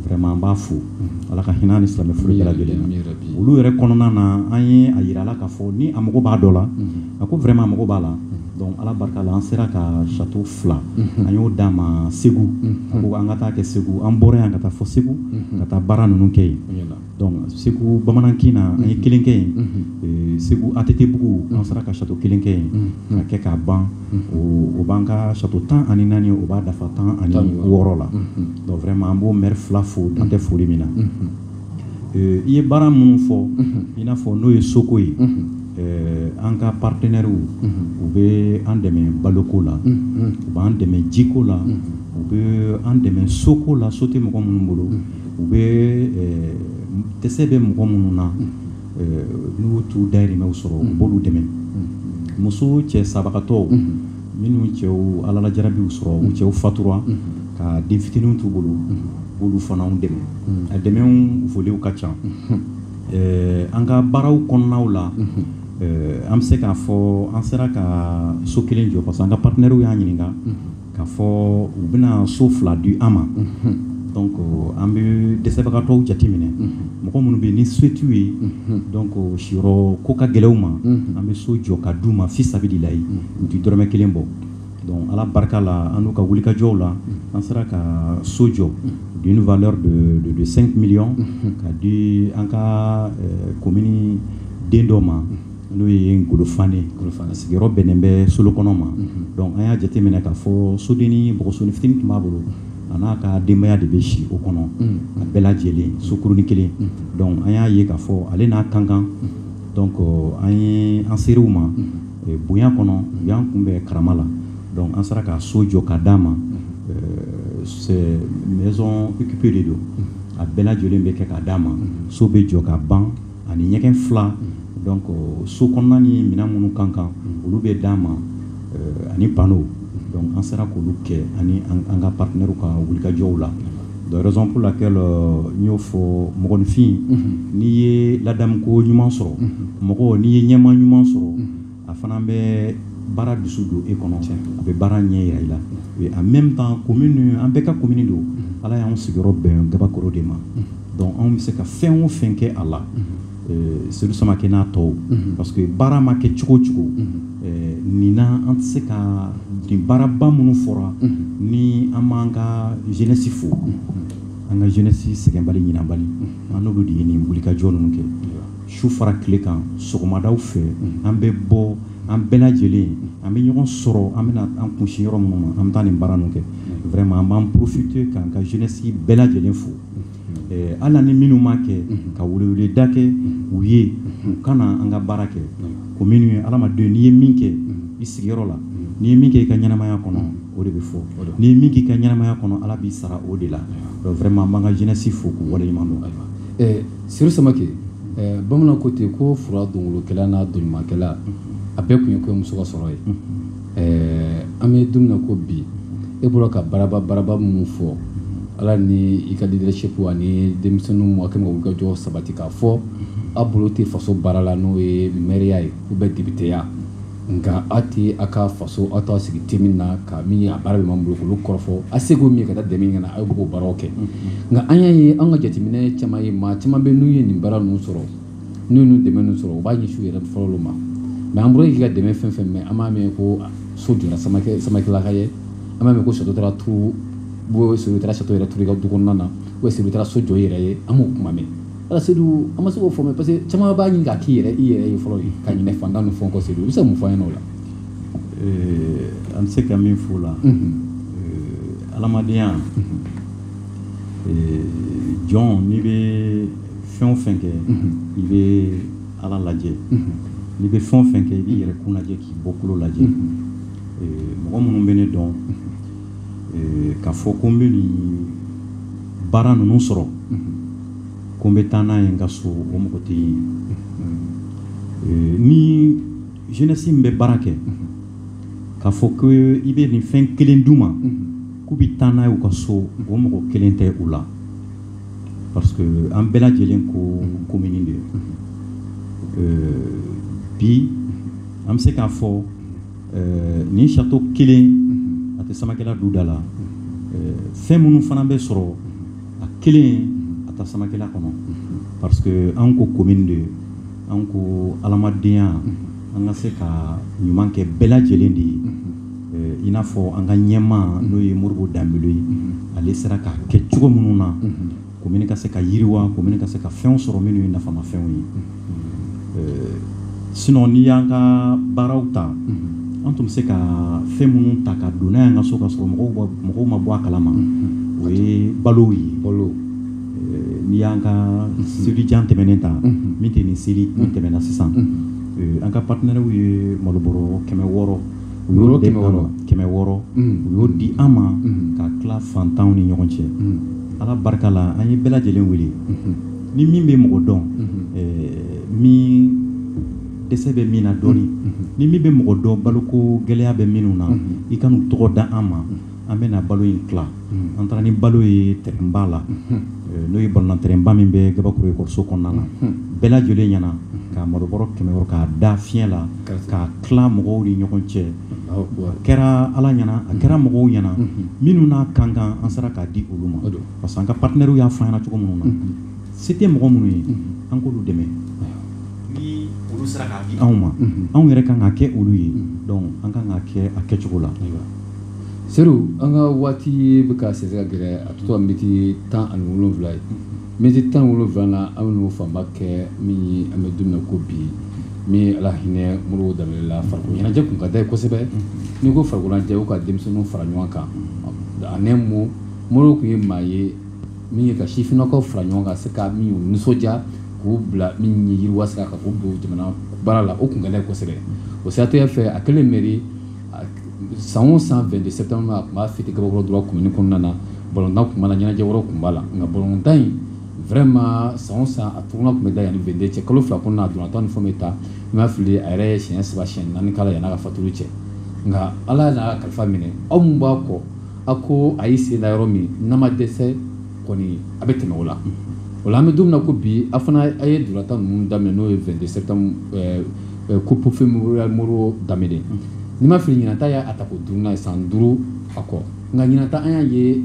S2: vraiment an b'a fo ala ka hinɛ ni silamɛ furu bɛɛ lajɛlen na olu yɛrɛ kɔnɔna na an ye a yira la k'a fɔ ni a mago b'a dɔ la a ko vraiment a mago b'a la donc ala barika la an sera ka château fila an y'o d'a ma segu a ko an ka taa kɛ segu an bɔra yan ka taa fo segu ka taa baara ninnu kɛ yen segu bamanankin na an ye kelen kɛ yen segu ATTbugu an sera ka château kelen kɛ yen ka kɛ k'a ban o b'an ka château tan ani naani o b'a dafa tan ani wɔɔrɔ la donc vraiment an b'o maire fila fo dan tɛ foli min na i ye baara minnu fɔ i n'a fɔ n'o ye soko ye an ka partenɛriw u bɛ an dɛmɛ baloko la u b'an dɛmɛ jiko la u bɛ an dɛmɛ soko la so tɛ mɔgɔ minnu bolo u bɛ dɛsɛ bɛ mɔgɔ minnu na n'u t'u dayirimɛw sɔrɔ u b'olu dɛmɛ muso cɛ sabagatɔw minnu cɛw alalajarabiw sɔrɔ u cɛw fatura ka den fitininw t'u bolo b'olu fana dɛmɛ a dɛmɛw volew ka ca an ka baaraw kɔnɔnaw la an bɛ se k'a fɔ an sera ka so kelen jɔ parce que an ka partenɛriw y'a ɲininka K'a fɔ u bɛna so fila di an ma donc an bɛ dɛsɛbagatɔw jateminɛ mɔgɔ minnu bɛ yen ni se t'u ye donc siyɔrɔ ko ka gɛlɛn u ma an bɛ so jɔ ka d'u ma fi sabililayi u tɛ dɔrɔmɛ kelen bɔ donc ala barika la an n'u ka wulikajɔw la an sera ka so jɔ d'une valeur de cinq millions ka di an ka komini den dɔ ma n'o ye ngolo fanɛ sigiyɔrɔ bɛnnen bɛ solokɔnɔ ma donc an y'a jateminɛ k'a fɔ sodennin bɔgɔsonin fitinin tun b'a bolo a n'a ka denbaya de bɛ si o kɔnɔ a bɛɛ lajɛlen sokurunin kelen donc an y'a ye k'a fɔ ale n'a kan kan donc an ye an ser'u ma bonya kɔnɔ u y'an kunbɛn karama la donc an sera ka so jɔ ka d'a ma maison équipée de don a bɛɛ lajɛlen bɛ kɛ ka d'a ma so bɛ jɔ ka ban ani ɲɛgɛn fila donc so kɔnɔna ni minɛn minnu kan kan olu bɛ d'a ma euh, ani pano donc an sera k'olu kɛ ani an ka partenaire ka wulikajɔw la de raison pour laquelle euh, n y'o fɔ mɔgɔninfin n'i ye ladamuko ɲuman sɔrɔ mɔgɔ n'i ye ɲɛmaa ɲuman sɔrɔ a fana bɛ baara dusu don e kɔnɔ a bɛ baara ɲɛ yira i la en même temps commune an bɛɛ ka commune don ala y'an sigiyɔrɔ bɛn gabakɔrɔ de ma donc anw bɛ se ka fɛn o fɛn kɛ a la sedu samakɛ n'a tɔw parce que baara ma kɛ cogo o cogo nin na an tɛ se ka nin baaraba minnu fɔra ni an b'an ka jeunesse fo an ka jeunesse sɛgɛnbali ɲinabali an n'olu de ye nin wulikajɔ ninnu kɛ su fara tile kan sɔgɔmadaw fɛ an bɛ bɔ an bɛɛ lajɛlen an bɛ ɲɔgɔn sɔrɔ an bɛna an kunsin yɔrɔ minnu ma an bɛ taa nin baara ninnu kɛ vraiment an b'an profiter k'an ka jeunesse bɛɛ lajɛlen fo eh, hali ni minnu m'a kɛ ka weleweleda kɛ u ye u ka na an ka baara kɛ commune ye adamaden n'i ye min kɛ i sigiyɔrɔ la n'i ye min kɛ i ka ɲɛnamaya kɔnɔ o de bɛ fɔ n'i ye min k'i ka ɲɛnamaya kɔnɔ ala b'i sara o de la donc vraiment an b'an ka jeunesse fo k'u waleɲuman dɔn Sedu
S1: samakɛ bamanan ko ten ko fura dɔnkolonkɛla n'a dɔnɲumankɛla a bɛɛ kun ye kɔɲɔmuso ka sɔrɔ ye ɛɛ an bɛ don min na ko bi e bɔra ka baaraba baaraba minnu fɔ ala ni i ka leadership ani denmisɛnninw ka wulikajɔ sabati k'a fɔ aw bolo tɛ faso baara la n'o ye mɛriya ye ou bien depiteya nka aw tɛ aw ka faso aw t'aw sigi te min na ka min a baara bɛ minnu bolo k'olu kɔrɔfɔ a seko min ye ka taa dɛmɛ ɲini ka na aw b'o baaraw kɛ nka an y'a ye an ka jateminɛ caman ye maa caman bɛ n'u ye nin baara ninnu sɔrɔ n'u ye nin dɛmɛ ninnu sɔrɔ u b'a ɲɛsin u yɛrɛ fɔlɔ ma mais an bɔra k'i ka dɛmɛ fɛn fɛn mɛn an m'a mɛn ko so jɔra samakɛ samakɛlaka ye an m'a mɛn ko sedu taara château yɛrɛ turu i ka du kɔnɔna na ou bien sedu taara so jɔ i yɛrɛ ye an m'o kuma mɛn ala sedu an ma se k'o fɔ mɛn parce que caman b'a ɲini k'a k'i yɛrɛ i yɛrɛ ye fɔlɔ ye ka ɲinɛ fantan ni fɛn kɔ sedu i bɛ se ka mun fɔ an ɲɛna o
S2: la an bɛ se ka min f'o la adamadenya jɔn n'i bɛ fɛn o fɛn kɛ i bɛ ala lajɛ n'i bɛ fɛn o fɛn kɛ i b'i yɛrɛ kun lajɛ k'i bɔkolo lajɛ mɔgɔ minnu bɛ ne dɔn k'a fɔ ko n bɛ nin baara ninnu sɔrɔ ko n bɛ taa n'a ye n ka so o mɔgɔ tɛ yen ni jeunesse min bɛ baara kɛ k'a fɔ ko i bɛ nin fɛn kelen d'u ma k'u bɛ taa n'a ye u ka so o mɔgɔ kelen tɛ u la parce que an bɛɛ lajɛlen ko commune de bi an bɛ se k'a fɔ nin château kelen a tɛ samakɛla duda la fɛn minnu fana bɛ sɔrɔ a kelen a tɛ samakɛla kɔnɔ parce que an ko commune de an ko adamadenya an ka se ka ɲuman kɛ bɛɛ lajɛlen de ye i n'a fɔ an ka ɲɛmaa n'o ye modibo danbele ye ale sera k'a kɛ cogo minnu na komini ka se ka yiriwa komini ka se ka fɛnw sɔrɔ minnu ye nafama fɛnw ye euh, sinon n'i y'an ka baaraw ta an tun bɛ se ka fɛn minnu ta ka don n'a y'an ka so ka sɔrɔ mɔgɔw mɔgɔw ma bɔ a kalama o ye balow ye balo euh, n'i y'an ka selijan tɛmɛnen ta min tɛ nin seli min tɛmɛna sisan euh, an ka partenaires ye malobɔrɔ kɛmɛ wɔɔrɔ u y'o kɛmɛ wɔɔrɔ kɛmɛ wɔɔrɔ u y'o di an ma ka tila fantanw ni ɲɔgɔn cɛ ala barika la an ye bɛɛ lajɛlen wele ni min bɛ mɔgɔ dɔn min dɛsɛ bɛ min na dɔɔnin ni min bɛ mɔgɔ dɔn baloko gɛlɛya bɛ minnu na i ka n'u tɔgɔ da an ma an bɛna balo in tila an taara ni balo ye terrainba la n'o ye balontan terrainba min bɛ gabakoro ekɔliso kɔnɔna na bɛɛ lajɛlen ɲɛna ka malobɔrɔ kɛmɛ k'a da fiɲɛ la ka tila mɔgɔw ni ɲɔgɔn cɛ a kɛra ala ɲɛna a kɛra mɔgɔw ɲɛna minnu n'a ka kan an sera k'a di olu ma donc parce que an ka partenaires y'a fɔ an ɲɛna cogo minnu na se tɛ mɔgɔ minnu ye an k'olu dɛmɛ ni olu sera k'a di anw ma anw yɛrɛ ka kan ka kɛ olu ye donc an ka kan ka kɛ a kɛcogo la
S1: seydou an ka waati bɛ ka sɛnsɛn ka gɛrɛ a bɛ to miniti tan ani wolonwula ye miniti tan ni wolonwula na an bɛ n'o fanba kɛ min ye an bɛ don min na ko bi min ala hinɛ modibo danbɛlɛ la farikolo ɲɛnajɛ tun ka d'a ye kosɛbɛ n'i ko farikolo ɲɛnajɛ o ka denmisɛnninw fara ɲɔgɔn kan en un mot modibo tun ye maa ye min ye ka sifinnakaw fara ɲɔgɔn kan se ka min y'u nisɔndiya k'u bila min ye yiriwa sira kan k'u don jamana baara la o tun ka d'a ye kosɛbɛ o siratigɛ fɛ a kɛlen mɛri san o san vingt-deux septembre a tun b'a fêter gabakoro droit komini kɔnɔna na balontan tun b'a la ɲɛnajɛ wɛrɛw tun b'a la nka balontan in vraiment san san a tournoi tun bɛ da yan ni vingt-deux cɛ kalo fila kɔnɔ dɔrɔn tan ni fɛn bɛ ta ni n ma fili a yɛrɛ ye siɲɛ saba siɲɛ naani k'a la yan n'a ka fatuli cɛ nka ala y'a kalifa minɛ aw minnu b'a kɔ aw ko a y'i sen da yɔrɔ min n'a ma dɛsɛ a bɛ tɛmɛ o la o la an bɛ don min na ko bi a fana a ye ntolatan ninnu daminɛ n'o ye vingt-deux septembre coupe mémorial modibo danbɛlɛ ni n ma fili ɲinan ta y'a tako duurunan ye san duuru a kɔ nka ɲinan ta an y'a ye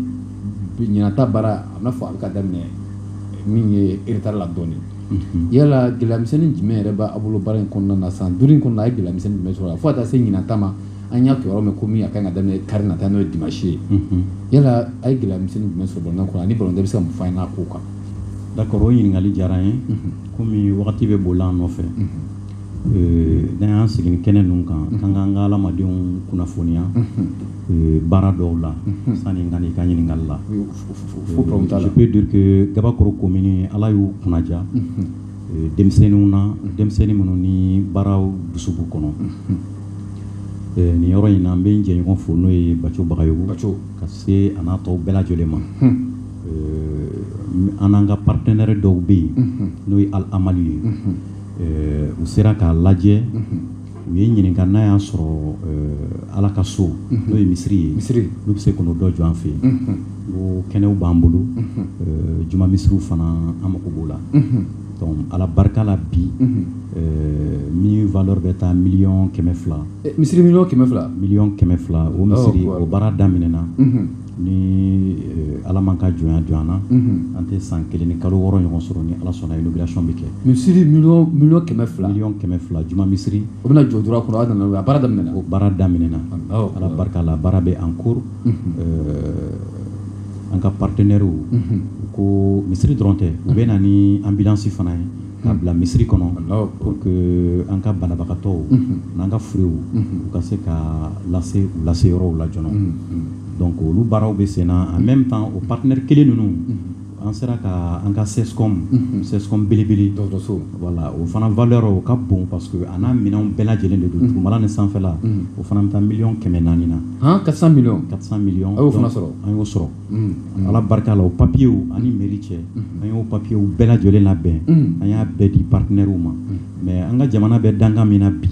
S1: ɲinan ta baara a bɛna fɔ a bɛ ka daminɛ min ye retard la dɔɔnin yala gɛlɛya misɛnnin jumɛn yɛrɛ b'a bolo baara in kɔnɔna na san duuru in kɔnɔ a ye gɛlɛya misɛnnin jumɛn sɔrɔ a fo ka taa se ɲinan ta ma an y'a kibaru mɛn ko min a ka kan ka daminɛ kari nata n'o ye dimanche ye unhun yala a ye gɛlɛya misɛnnin jumɛn sɔrɔ balontan kɔnɔ ani balontan bɛ se ka mun fɔ an ye n'a kow kan d'accord o
S2: ɲininkali diyara n ye komi wagati bɛ boli an nɔfɛ euh, n'an y'an sigi ni kɛnɛ ninnu kan k'an k'an ka adamadenw kunnafoniya euh, baara dɔw la sani n ka n'i ka ɲininkali la fo problème t'a la je peux dire que gabakoro komini ala y'u kunnadiya denmisɛnninw na denmisɛnnin minnu ni baaraw dusu b'u kɔnɔ nin yɔrɔ in na n bɛ n jɛɲɔgɔn fo n'o ye baco bagayogo baco ka se a n'a tɔw bɛɛ lajɛlen ma an n'an ka partenaire dɔw bɛ yen n'o ye Al Amali ye u sera k'a lajɛ u ye ɲininka n'a y'a sɔrɔ eh, ala ka so mhm. n'o ye misiri ye misiri n'u bɛ se k'o dɔ jɔ an fɛ yen mhm. ko kɛnɛw b'an bolo mhm. eh, juma misiriw fana an mago b'o la donc ala barika la bi eh, min valeur bɛ taa miliyɔn kɛmɛ fila misiri miliyɔn kɛmɛ
S1: fila miliyɔn kɛmɛ fila o
S2: misiri o baara daminɛna ni ala man ka jɔn jɔ na an tɛ san kelen ni kalo wɔɔrɔ ɲɔgɔn sɔrɔ ni ala sɔnna inauguration bɛ kɛ misiri
S1: miliyɔn kɛmɛ fila miliyɔn kɛmɛ fila juma
S2: misiri o bɛna jɔ dɔrɔn kɔnɔ
S1: nana a baara daminɛna o baara daminɛna
S2: ala barika la baara bɛ en cours an ka partenairew u ko misiri dɔrɔn tɛ u bɛ na ni ambulance fana ye k'a bila misiri kɔnɔ pour que an ka banabagatɔw n'an ka furew u ka se ka lase u lase yɔrɔw la joona donc olu baaraw bɛ senna en même temps o partenaire kelen ninnu an sera ka an ka CESCOM CESCOM belebele dɔgɔtɔrɔso voilà o fana valeur o ka bon parce que a n'a minɛnw bɛɛ lajɛlen de don dugumala ni sanfɛla o fana bɛ taa miliyɔn kɛmɛ naani na 400 millions 400
S1: millions a y'o fana
S2: sɔrɔ an y'o
S1: sɔrɔ
S2: ala barika la o papiyew ani mairie cɛ an y'o papiyew bɛɛ lajɛlen labɛn an y'a bɛɛ di partenairew ma mais an ka jamana bɛ dankan min na bi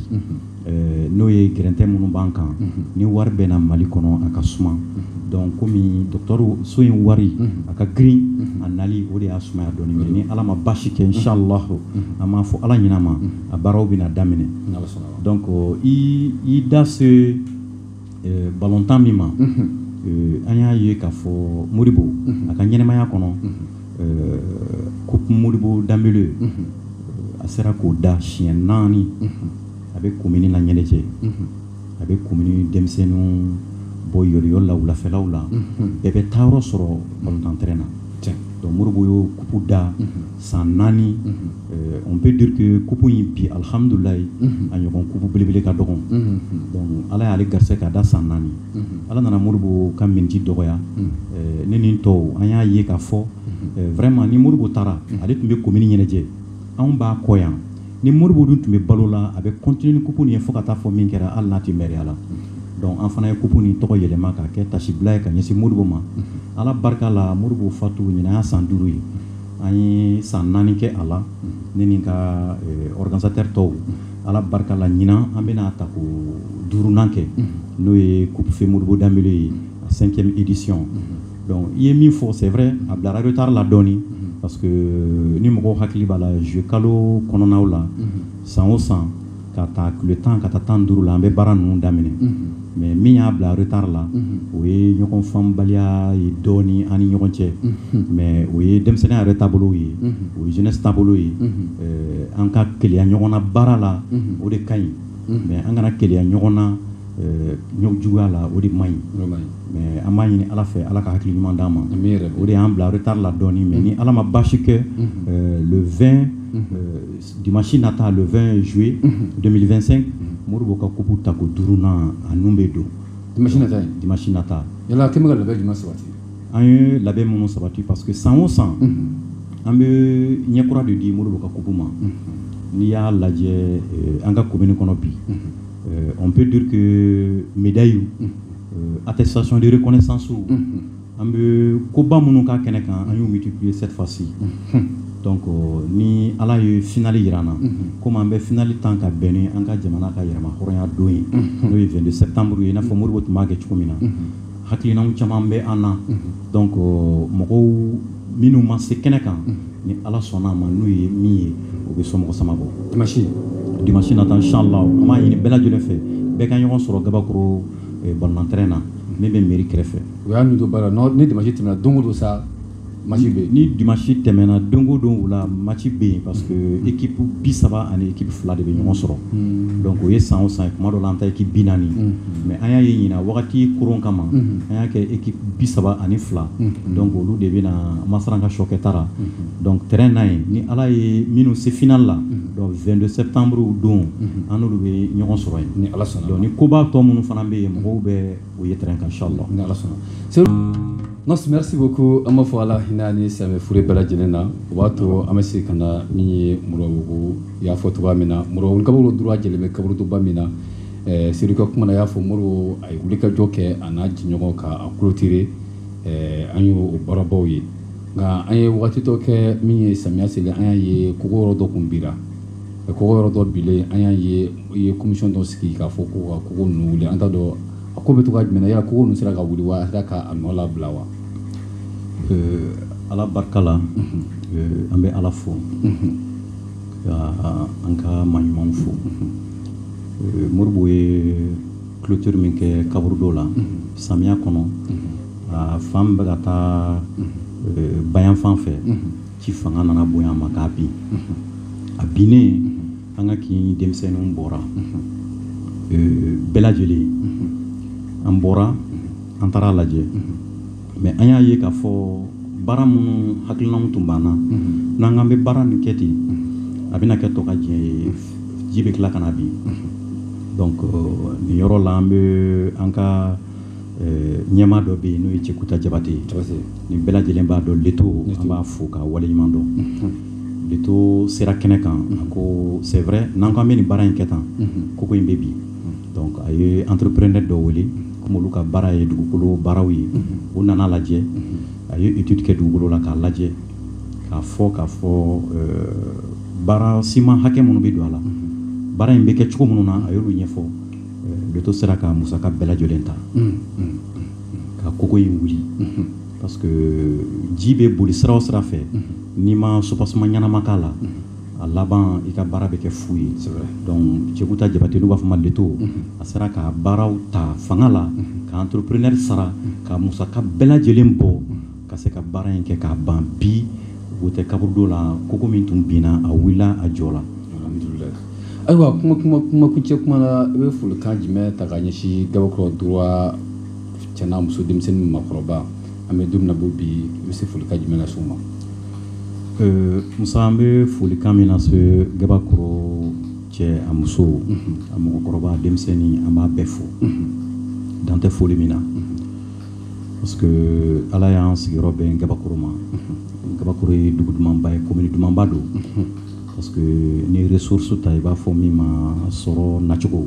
S2: n'o ye gɛrɛntɛ minnu b'an kan ni wari bɛ na mali kɔnɔ a ka suma donc kɔmi dɔgɔtɔrɔso in wari a ka girin a nali o de y'a sumaya dɔɔni mais ni ala ma basi kɛ inshallah an m'a fɔ ala ɲinɛ ma a baaraw bɛna daminɛ donc i da se balontan min ma an y'a ye k'a fɔ Modibo a ka ɲɛnɛmaya kɔnɔ coupe Modibo Dembele a sera k'o da siɲɛ naani a bɛ komini la ɲɛnajɛ a bɛ komini denmisɛnninw bɔ yoliyoli la wulafɛlaw la bɛɛ bɛ taa yɔrɔ sɔrɔ balontan terrain na donc Modibo y'o coupe da San naani on peut dire que coupe in bi alihamdulilayi a ɲɔgɔn coupe belebele ka dɔgɔ ala y'ale garisɛgɛ k'a da san naani ala nana Modibo ka min ji dɔgɔya ne ni n tɔw an y'a ye k'a fɔ vraiment ni Modibo taara ale tun bɛ komini ɲɛnajɛ anw b'a kɔ yan ni Modibo dun tun bɛ balo la a bɛ continuer ni coupe nin ye fo ka taa fɔ min kɛra hali n'a tɛ mɛriya la donc an fana ye coupe nin tɔgɔ yɛlɛma k'a kɛ tasibila ye ka ɲɛsin Modibo ma ala barika la Modibo fatu ɲinan y'a san duuru ye an ye san naani kɛ a la ne ni n ka organisateur tɔw ala barika la ɲinan an bɛna ta ko duurunan kɛ n'o ye coupe feu Modibo Dembele ye a cinquième édition donc i ye min fɔ c'est vrai a bilara retard la dɔɔnin parce que ni mɔgɔw hakili b'a la juillet kalo kɔnɔnaw la san o san ka taa tile tan ka taa tan ni duuru la an bɛ baara ninnu daminɛ mais min y'a bila retard la o ye ɲɔgɔn faamubaliya ye dɔɔnin an ni ɲɔgɔn cɛ mais o ye denmisɛnninya yɛrɛ taabolo ye o ye jeunesse taabolo ye an ka keleya ɲɔgɔn na baara la o de ka ɲi mais an kana keleya ɲɔgɔn na juguya la o de man ɲi mais an b'a ɲini ala fɛ ala ka hakili ɲuman d'an ma o de y'an bila retard la dɔɔnin mais ni ala ma basi kɛ le 20 Dimanche nata le 20 juillet 2025 Modibo ka coupe tako duurunan a nun bɛ don dimanche nata in, dimanche nata, yala a kɛ bɛ ka labɛn jumɛn
S1: sabati? an ye labɛn
S2: minnu sabati parce que san o san an bɛ ɲɛ kura de di Modibo ka coupe ma n'i y'a lajɛ an ka commune kɔnɔ bi on peut dire que médailles attestation de reconnaissance an bɛ koba minnu kɛ kɛnɛ kan an y'u multiplier cette fois ci donc euh, ni ala ye finali jira an na komi an bɛ finali tan ka bɛn ni an ka jamana ka yɛrɛma hɔrɔnya don ye n'o ye 22 septembre ye i n'a fɔ Modibo tun b'a kɛ cogo min na hakilinaw caman bɛ an na donc euh, mɔgɔw minnu ma se kɛnɛ kan ni ala sɔnna a ma n'u ye min ye o bɛ somɔgɔ sama bɔ dimanche dimanche nata inchallah an b'a ɲini bɛɛ lajɛlen fɛ bɛɛ ka ɲɔgɔn sɔrɔ Gabakoro ballon terrain na min bɛ mairie kɛrɛfɛ u y'a don
S1: baara ni dimanche tɛmɛna don o don sa match bɛ yen ni dimanche tɛmɛna
S2: don o don wula match bɛ yen parce que équipe bi saba ani équipe fila de bɛ ɲɔgɔn sɔrɔ donc o ye san o san kuma dɔ la an ta équipe bi naani mais an y'a ye ɲinan wagati kɔrɔn kama an y'a kɛ équipe bi saba ani fila donc olu de bɛ na masaran ka sokɛ taara donc terrain na yen ni ala ye minnu se finale la Donc 22 septembre don an n'olu bɛ ɲɔgɔn sɔrɔ yen ni Ala sɔnna donc ni
S1: koba tɔ
S2: minnu fana bɛ yen mɔgɔw bɛ o ye terrain kan inchallah ni Ala sɔnna Seyidu
S1: merci merci beaucoup an b'a fɔ Ala hinɛ a ni silamɛ fure bɛɛ lajɛlen na o b'a to an bɛ segin ka na min ye Moribabugu i y'a fɔ cogoya min na Moribabugu Gabakoro droit jɛlen bɛ kaburudoba min na ɛɛ Seyidu ka kuma na a y'a fɔ Modibo a ye wulikajɔ kɛ a n'a jɛɲɔgɔn k'a clôturer ɛɛ an y'o baarabaw ye nka an ye waati dɔ kɛ min ye samiya selen an y'a ye kogo yɔrɔ dɔ kun bira kogo yɔrɔ dɔ bilen an y'a ye i ye commission dɔ sigi k'a fɔ ko ka kogo ninnu wuli an t'a dɔn a ko bɛ to ka jumɛn na yala kogo ninnu sera ka wuli wa a sera k'a nɔ labila
S2: wa ala barika la an bɛ ala fo ka an ka maɲumanw fo Modibo ye clôture min kɛ kaburudo la samiya kɔnɔ a fan min bɛ ka taa euh, bayan fan fɛ ji fanga nana bonya a ma k'a bin a binnen an ka kin denmisɛnninw bɔra euh, bɛɛ lajɛlen an bɔra an taara a lajɛ Mais an y'a ye k'a fɔ baara minnu hakilinaw tun b'an na n'an k'an bɛ baara nin kɛ ten a bɛna kɛ tɔkajɛ ye ji bɛ tila ka na bin donc nin yɔrɔ la an bɛ an ka ɲɛmaa dɔ bɛ yen n'o ye cɛkuta jabate ye nin bɛɛ lajɛlen b'a dɔn leto an b'a fo k'a waleɲuman dɔn leto sera kɛnɛ kan a ko c'est vrai n'an k'an bɛ nin baara in kɛ tan kogo in bɛ bin Donc a ye entrepreneur dɔ wele kɔmi olu ka baara ye dugukolo baaraw ye o nana lajɛ a ye étude kɛ dugukolo la k'a lajɛ k'a fɔ k'a fɔ baara siman hakɛ minnu bɛ don a la baara in bɛ kɛ cogo minnu na a y'olu ɲɛfɔ leto sera ka musaka bɛɛ lajɛlen ta ka kogo in wuli parce que ji bɛ boli sira o sira fɛ n'i ma soubassement ɲɛnama k'a la a laban i ka baara bɛ kɛ fu ye donc cɛkuta jabate n'u b'a fɔ ma leto a sera ka baaraw ta fanga la ka entrepreneur sara ka musaka bɛɛ lajɛlen bɔ ka se ka baara in kɛ k'a ban bi o tɛ kaburudo la kogo min tun binna a wulila a jɔla
S1: ayiwa kuma kuncɛ kuma na i bɛ folikan jumɛn ta ka ɲɛsin gabakɔrɔ droit cɛ n'a muso denmisɛn ni makɔrɔba an bɛ don min na bi i bɛ se folikan jumɛn lase u ma
S2: Euh, musa an bɛ folikan min lase gabakɔrɔ cɛ a muso mhm. a mɔgɔkɔrɔba denmisɛnnin an b'a bɛɛ fo mhm. dan tɛ foli min na mhm. parce que ala y'an sigiyɔrɔ bɛn gabakɔrɔ ma gabakɔrɔ ye dugu dumanba ye komini dumanba don parce que ni ressource ta i b'a fɔ min ma sɔrɔ nacogo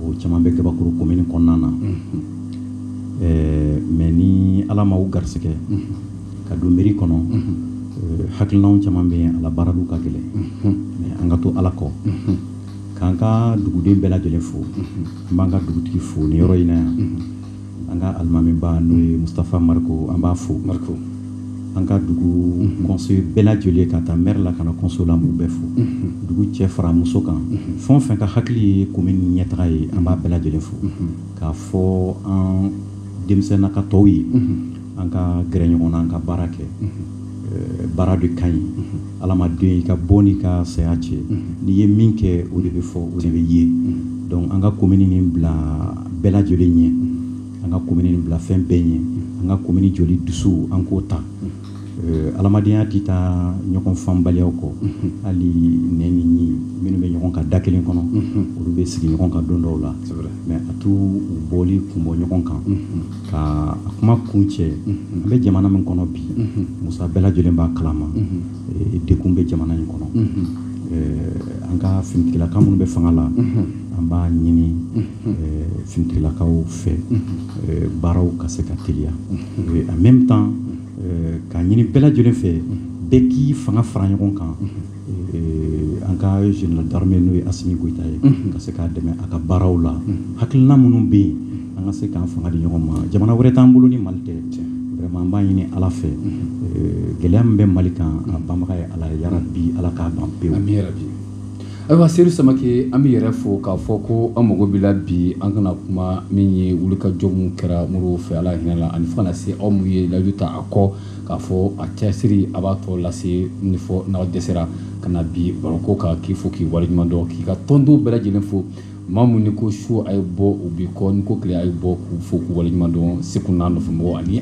S2: o caman bɛ gabakɔrɔ komini kɔnɔna na ɛɛ mais ni ala ma u garisigɛ ka don mairie kɔnɔ euh, hakilinaw caman bɛ yen a labaaraliw ka gɛlɛn mais an ka to ala kɔ k'an ka duguden bɛɛ lajɛlen fo an b'an ka dugutigi fo nin yɔrɔ in na yan an ka alimamiba n'o ye mustafa mariko an b'a fo an ka dugu conseil bɛɛ lajɛlen k'a ta mɛri la ka na conseil la n b'u bɛɛ fo dugu cɛ fara muso kan fɛn o fɛn ka hakili ye komini ɲɛtaga ye an b'a bɛɛ lajɛlen fo k'a fɔ an denmisɛnna ka tɔw ye an ka gɛrɛ ɲɔgɔn na an ka baara kɛ baara de ka ɲi adamaden i ka bɔ n'i ka saya cɛ n'i ye min kɛ o de bɛ fɔ o de bɛ ye donc an ka komini nin bila bɛɛ lajɛlen ɲɛ an ka komini nin bila fɛn bɛɛ ɲɛ an ka komini jɔli dusu an k'o ta adamadenya tɛ taa ɲɔgɔn faamubaliya kɔ hali nɛn ni ɲin minnu bɛ ɲɔgɔn kan da kelen kɔnɔ olu bɛ sigi ɲɔgɔn kan don dɔw la mais a t'u bɔli kun bɔ ɲɔgɔn kan ka kuma kuncɛ an bɛ jamana min kɔnɔ bi musa bɛɛ lajɛlen b'a kalama dekun bɛ jamana in kɔnɔ an ka finitigilakaw minnu bɛ fanga la an b'a ɲini finitigilakaw fɛ baaraw ka se ka teliya en même temps k'a ɲini bɛɛ lajɛlen fɛ bɛɛ k'i fanga fara ɲɔgɔn kan an ka général d'armée n'o ye asimi goyita ye ka se k'a dɛmɛ a ka baaraw la hakilina minnu bɛ yen an ka se k'an fanga di ɲɔgɔn ma jamana wɛrɛ t'an bolo ni mali tɛ an b'a ɲini ala fɛ gɛlɛya min bɛ mali kan a banbaga ye ala ye yarabi ala k'a ban
S1: bi ayiwa seyidu samakɛ an b'i yɛrɛ fo k'a fɔ ko an mago b'i la bi an kana kuma min ye wulikajɔ min kɛra mori fɛ ala hinɛ ani fo ka na se aw mun ye layidu ta a kɔ k'a fɔ a cɛsiri a b'a tɔ lase ni fɔ n'a dɛsɛra ka na bi baroko kan k'i fo k'i waleɲuman dɔn k'i ka tɔndenw bɛɛ lajɛlen fo maa minnu n'i ko su a ye bɔ u b'i kɔ n'i ko tile a ye bɔ k'u fo k'u waleɲuman dɔn seku n'a nɔfɛmɔgɔw ani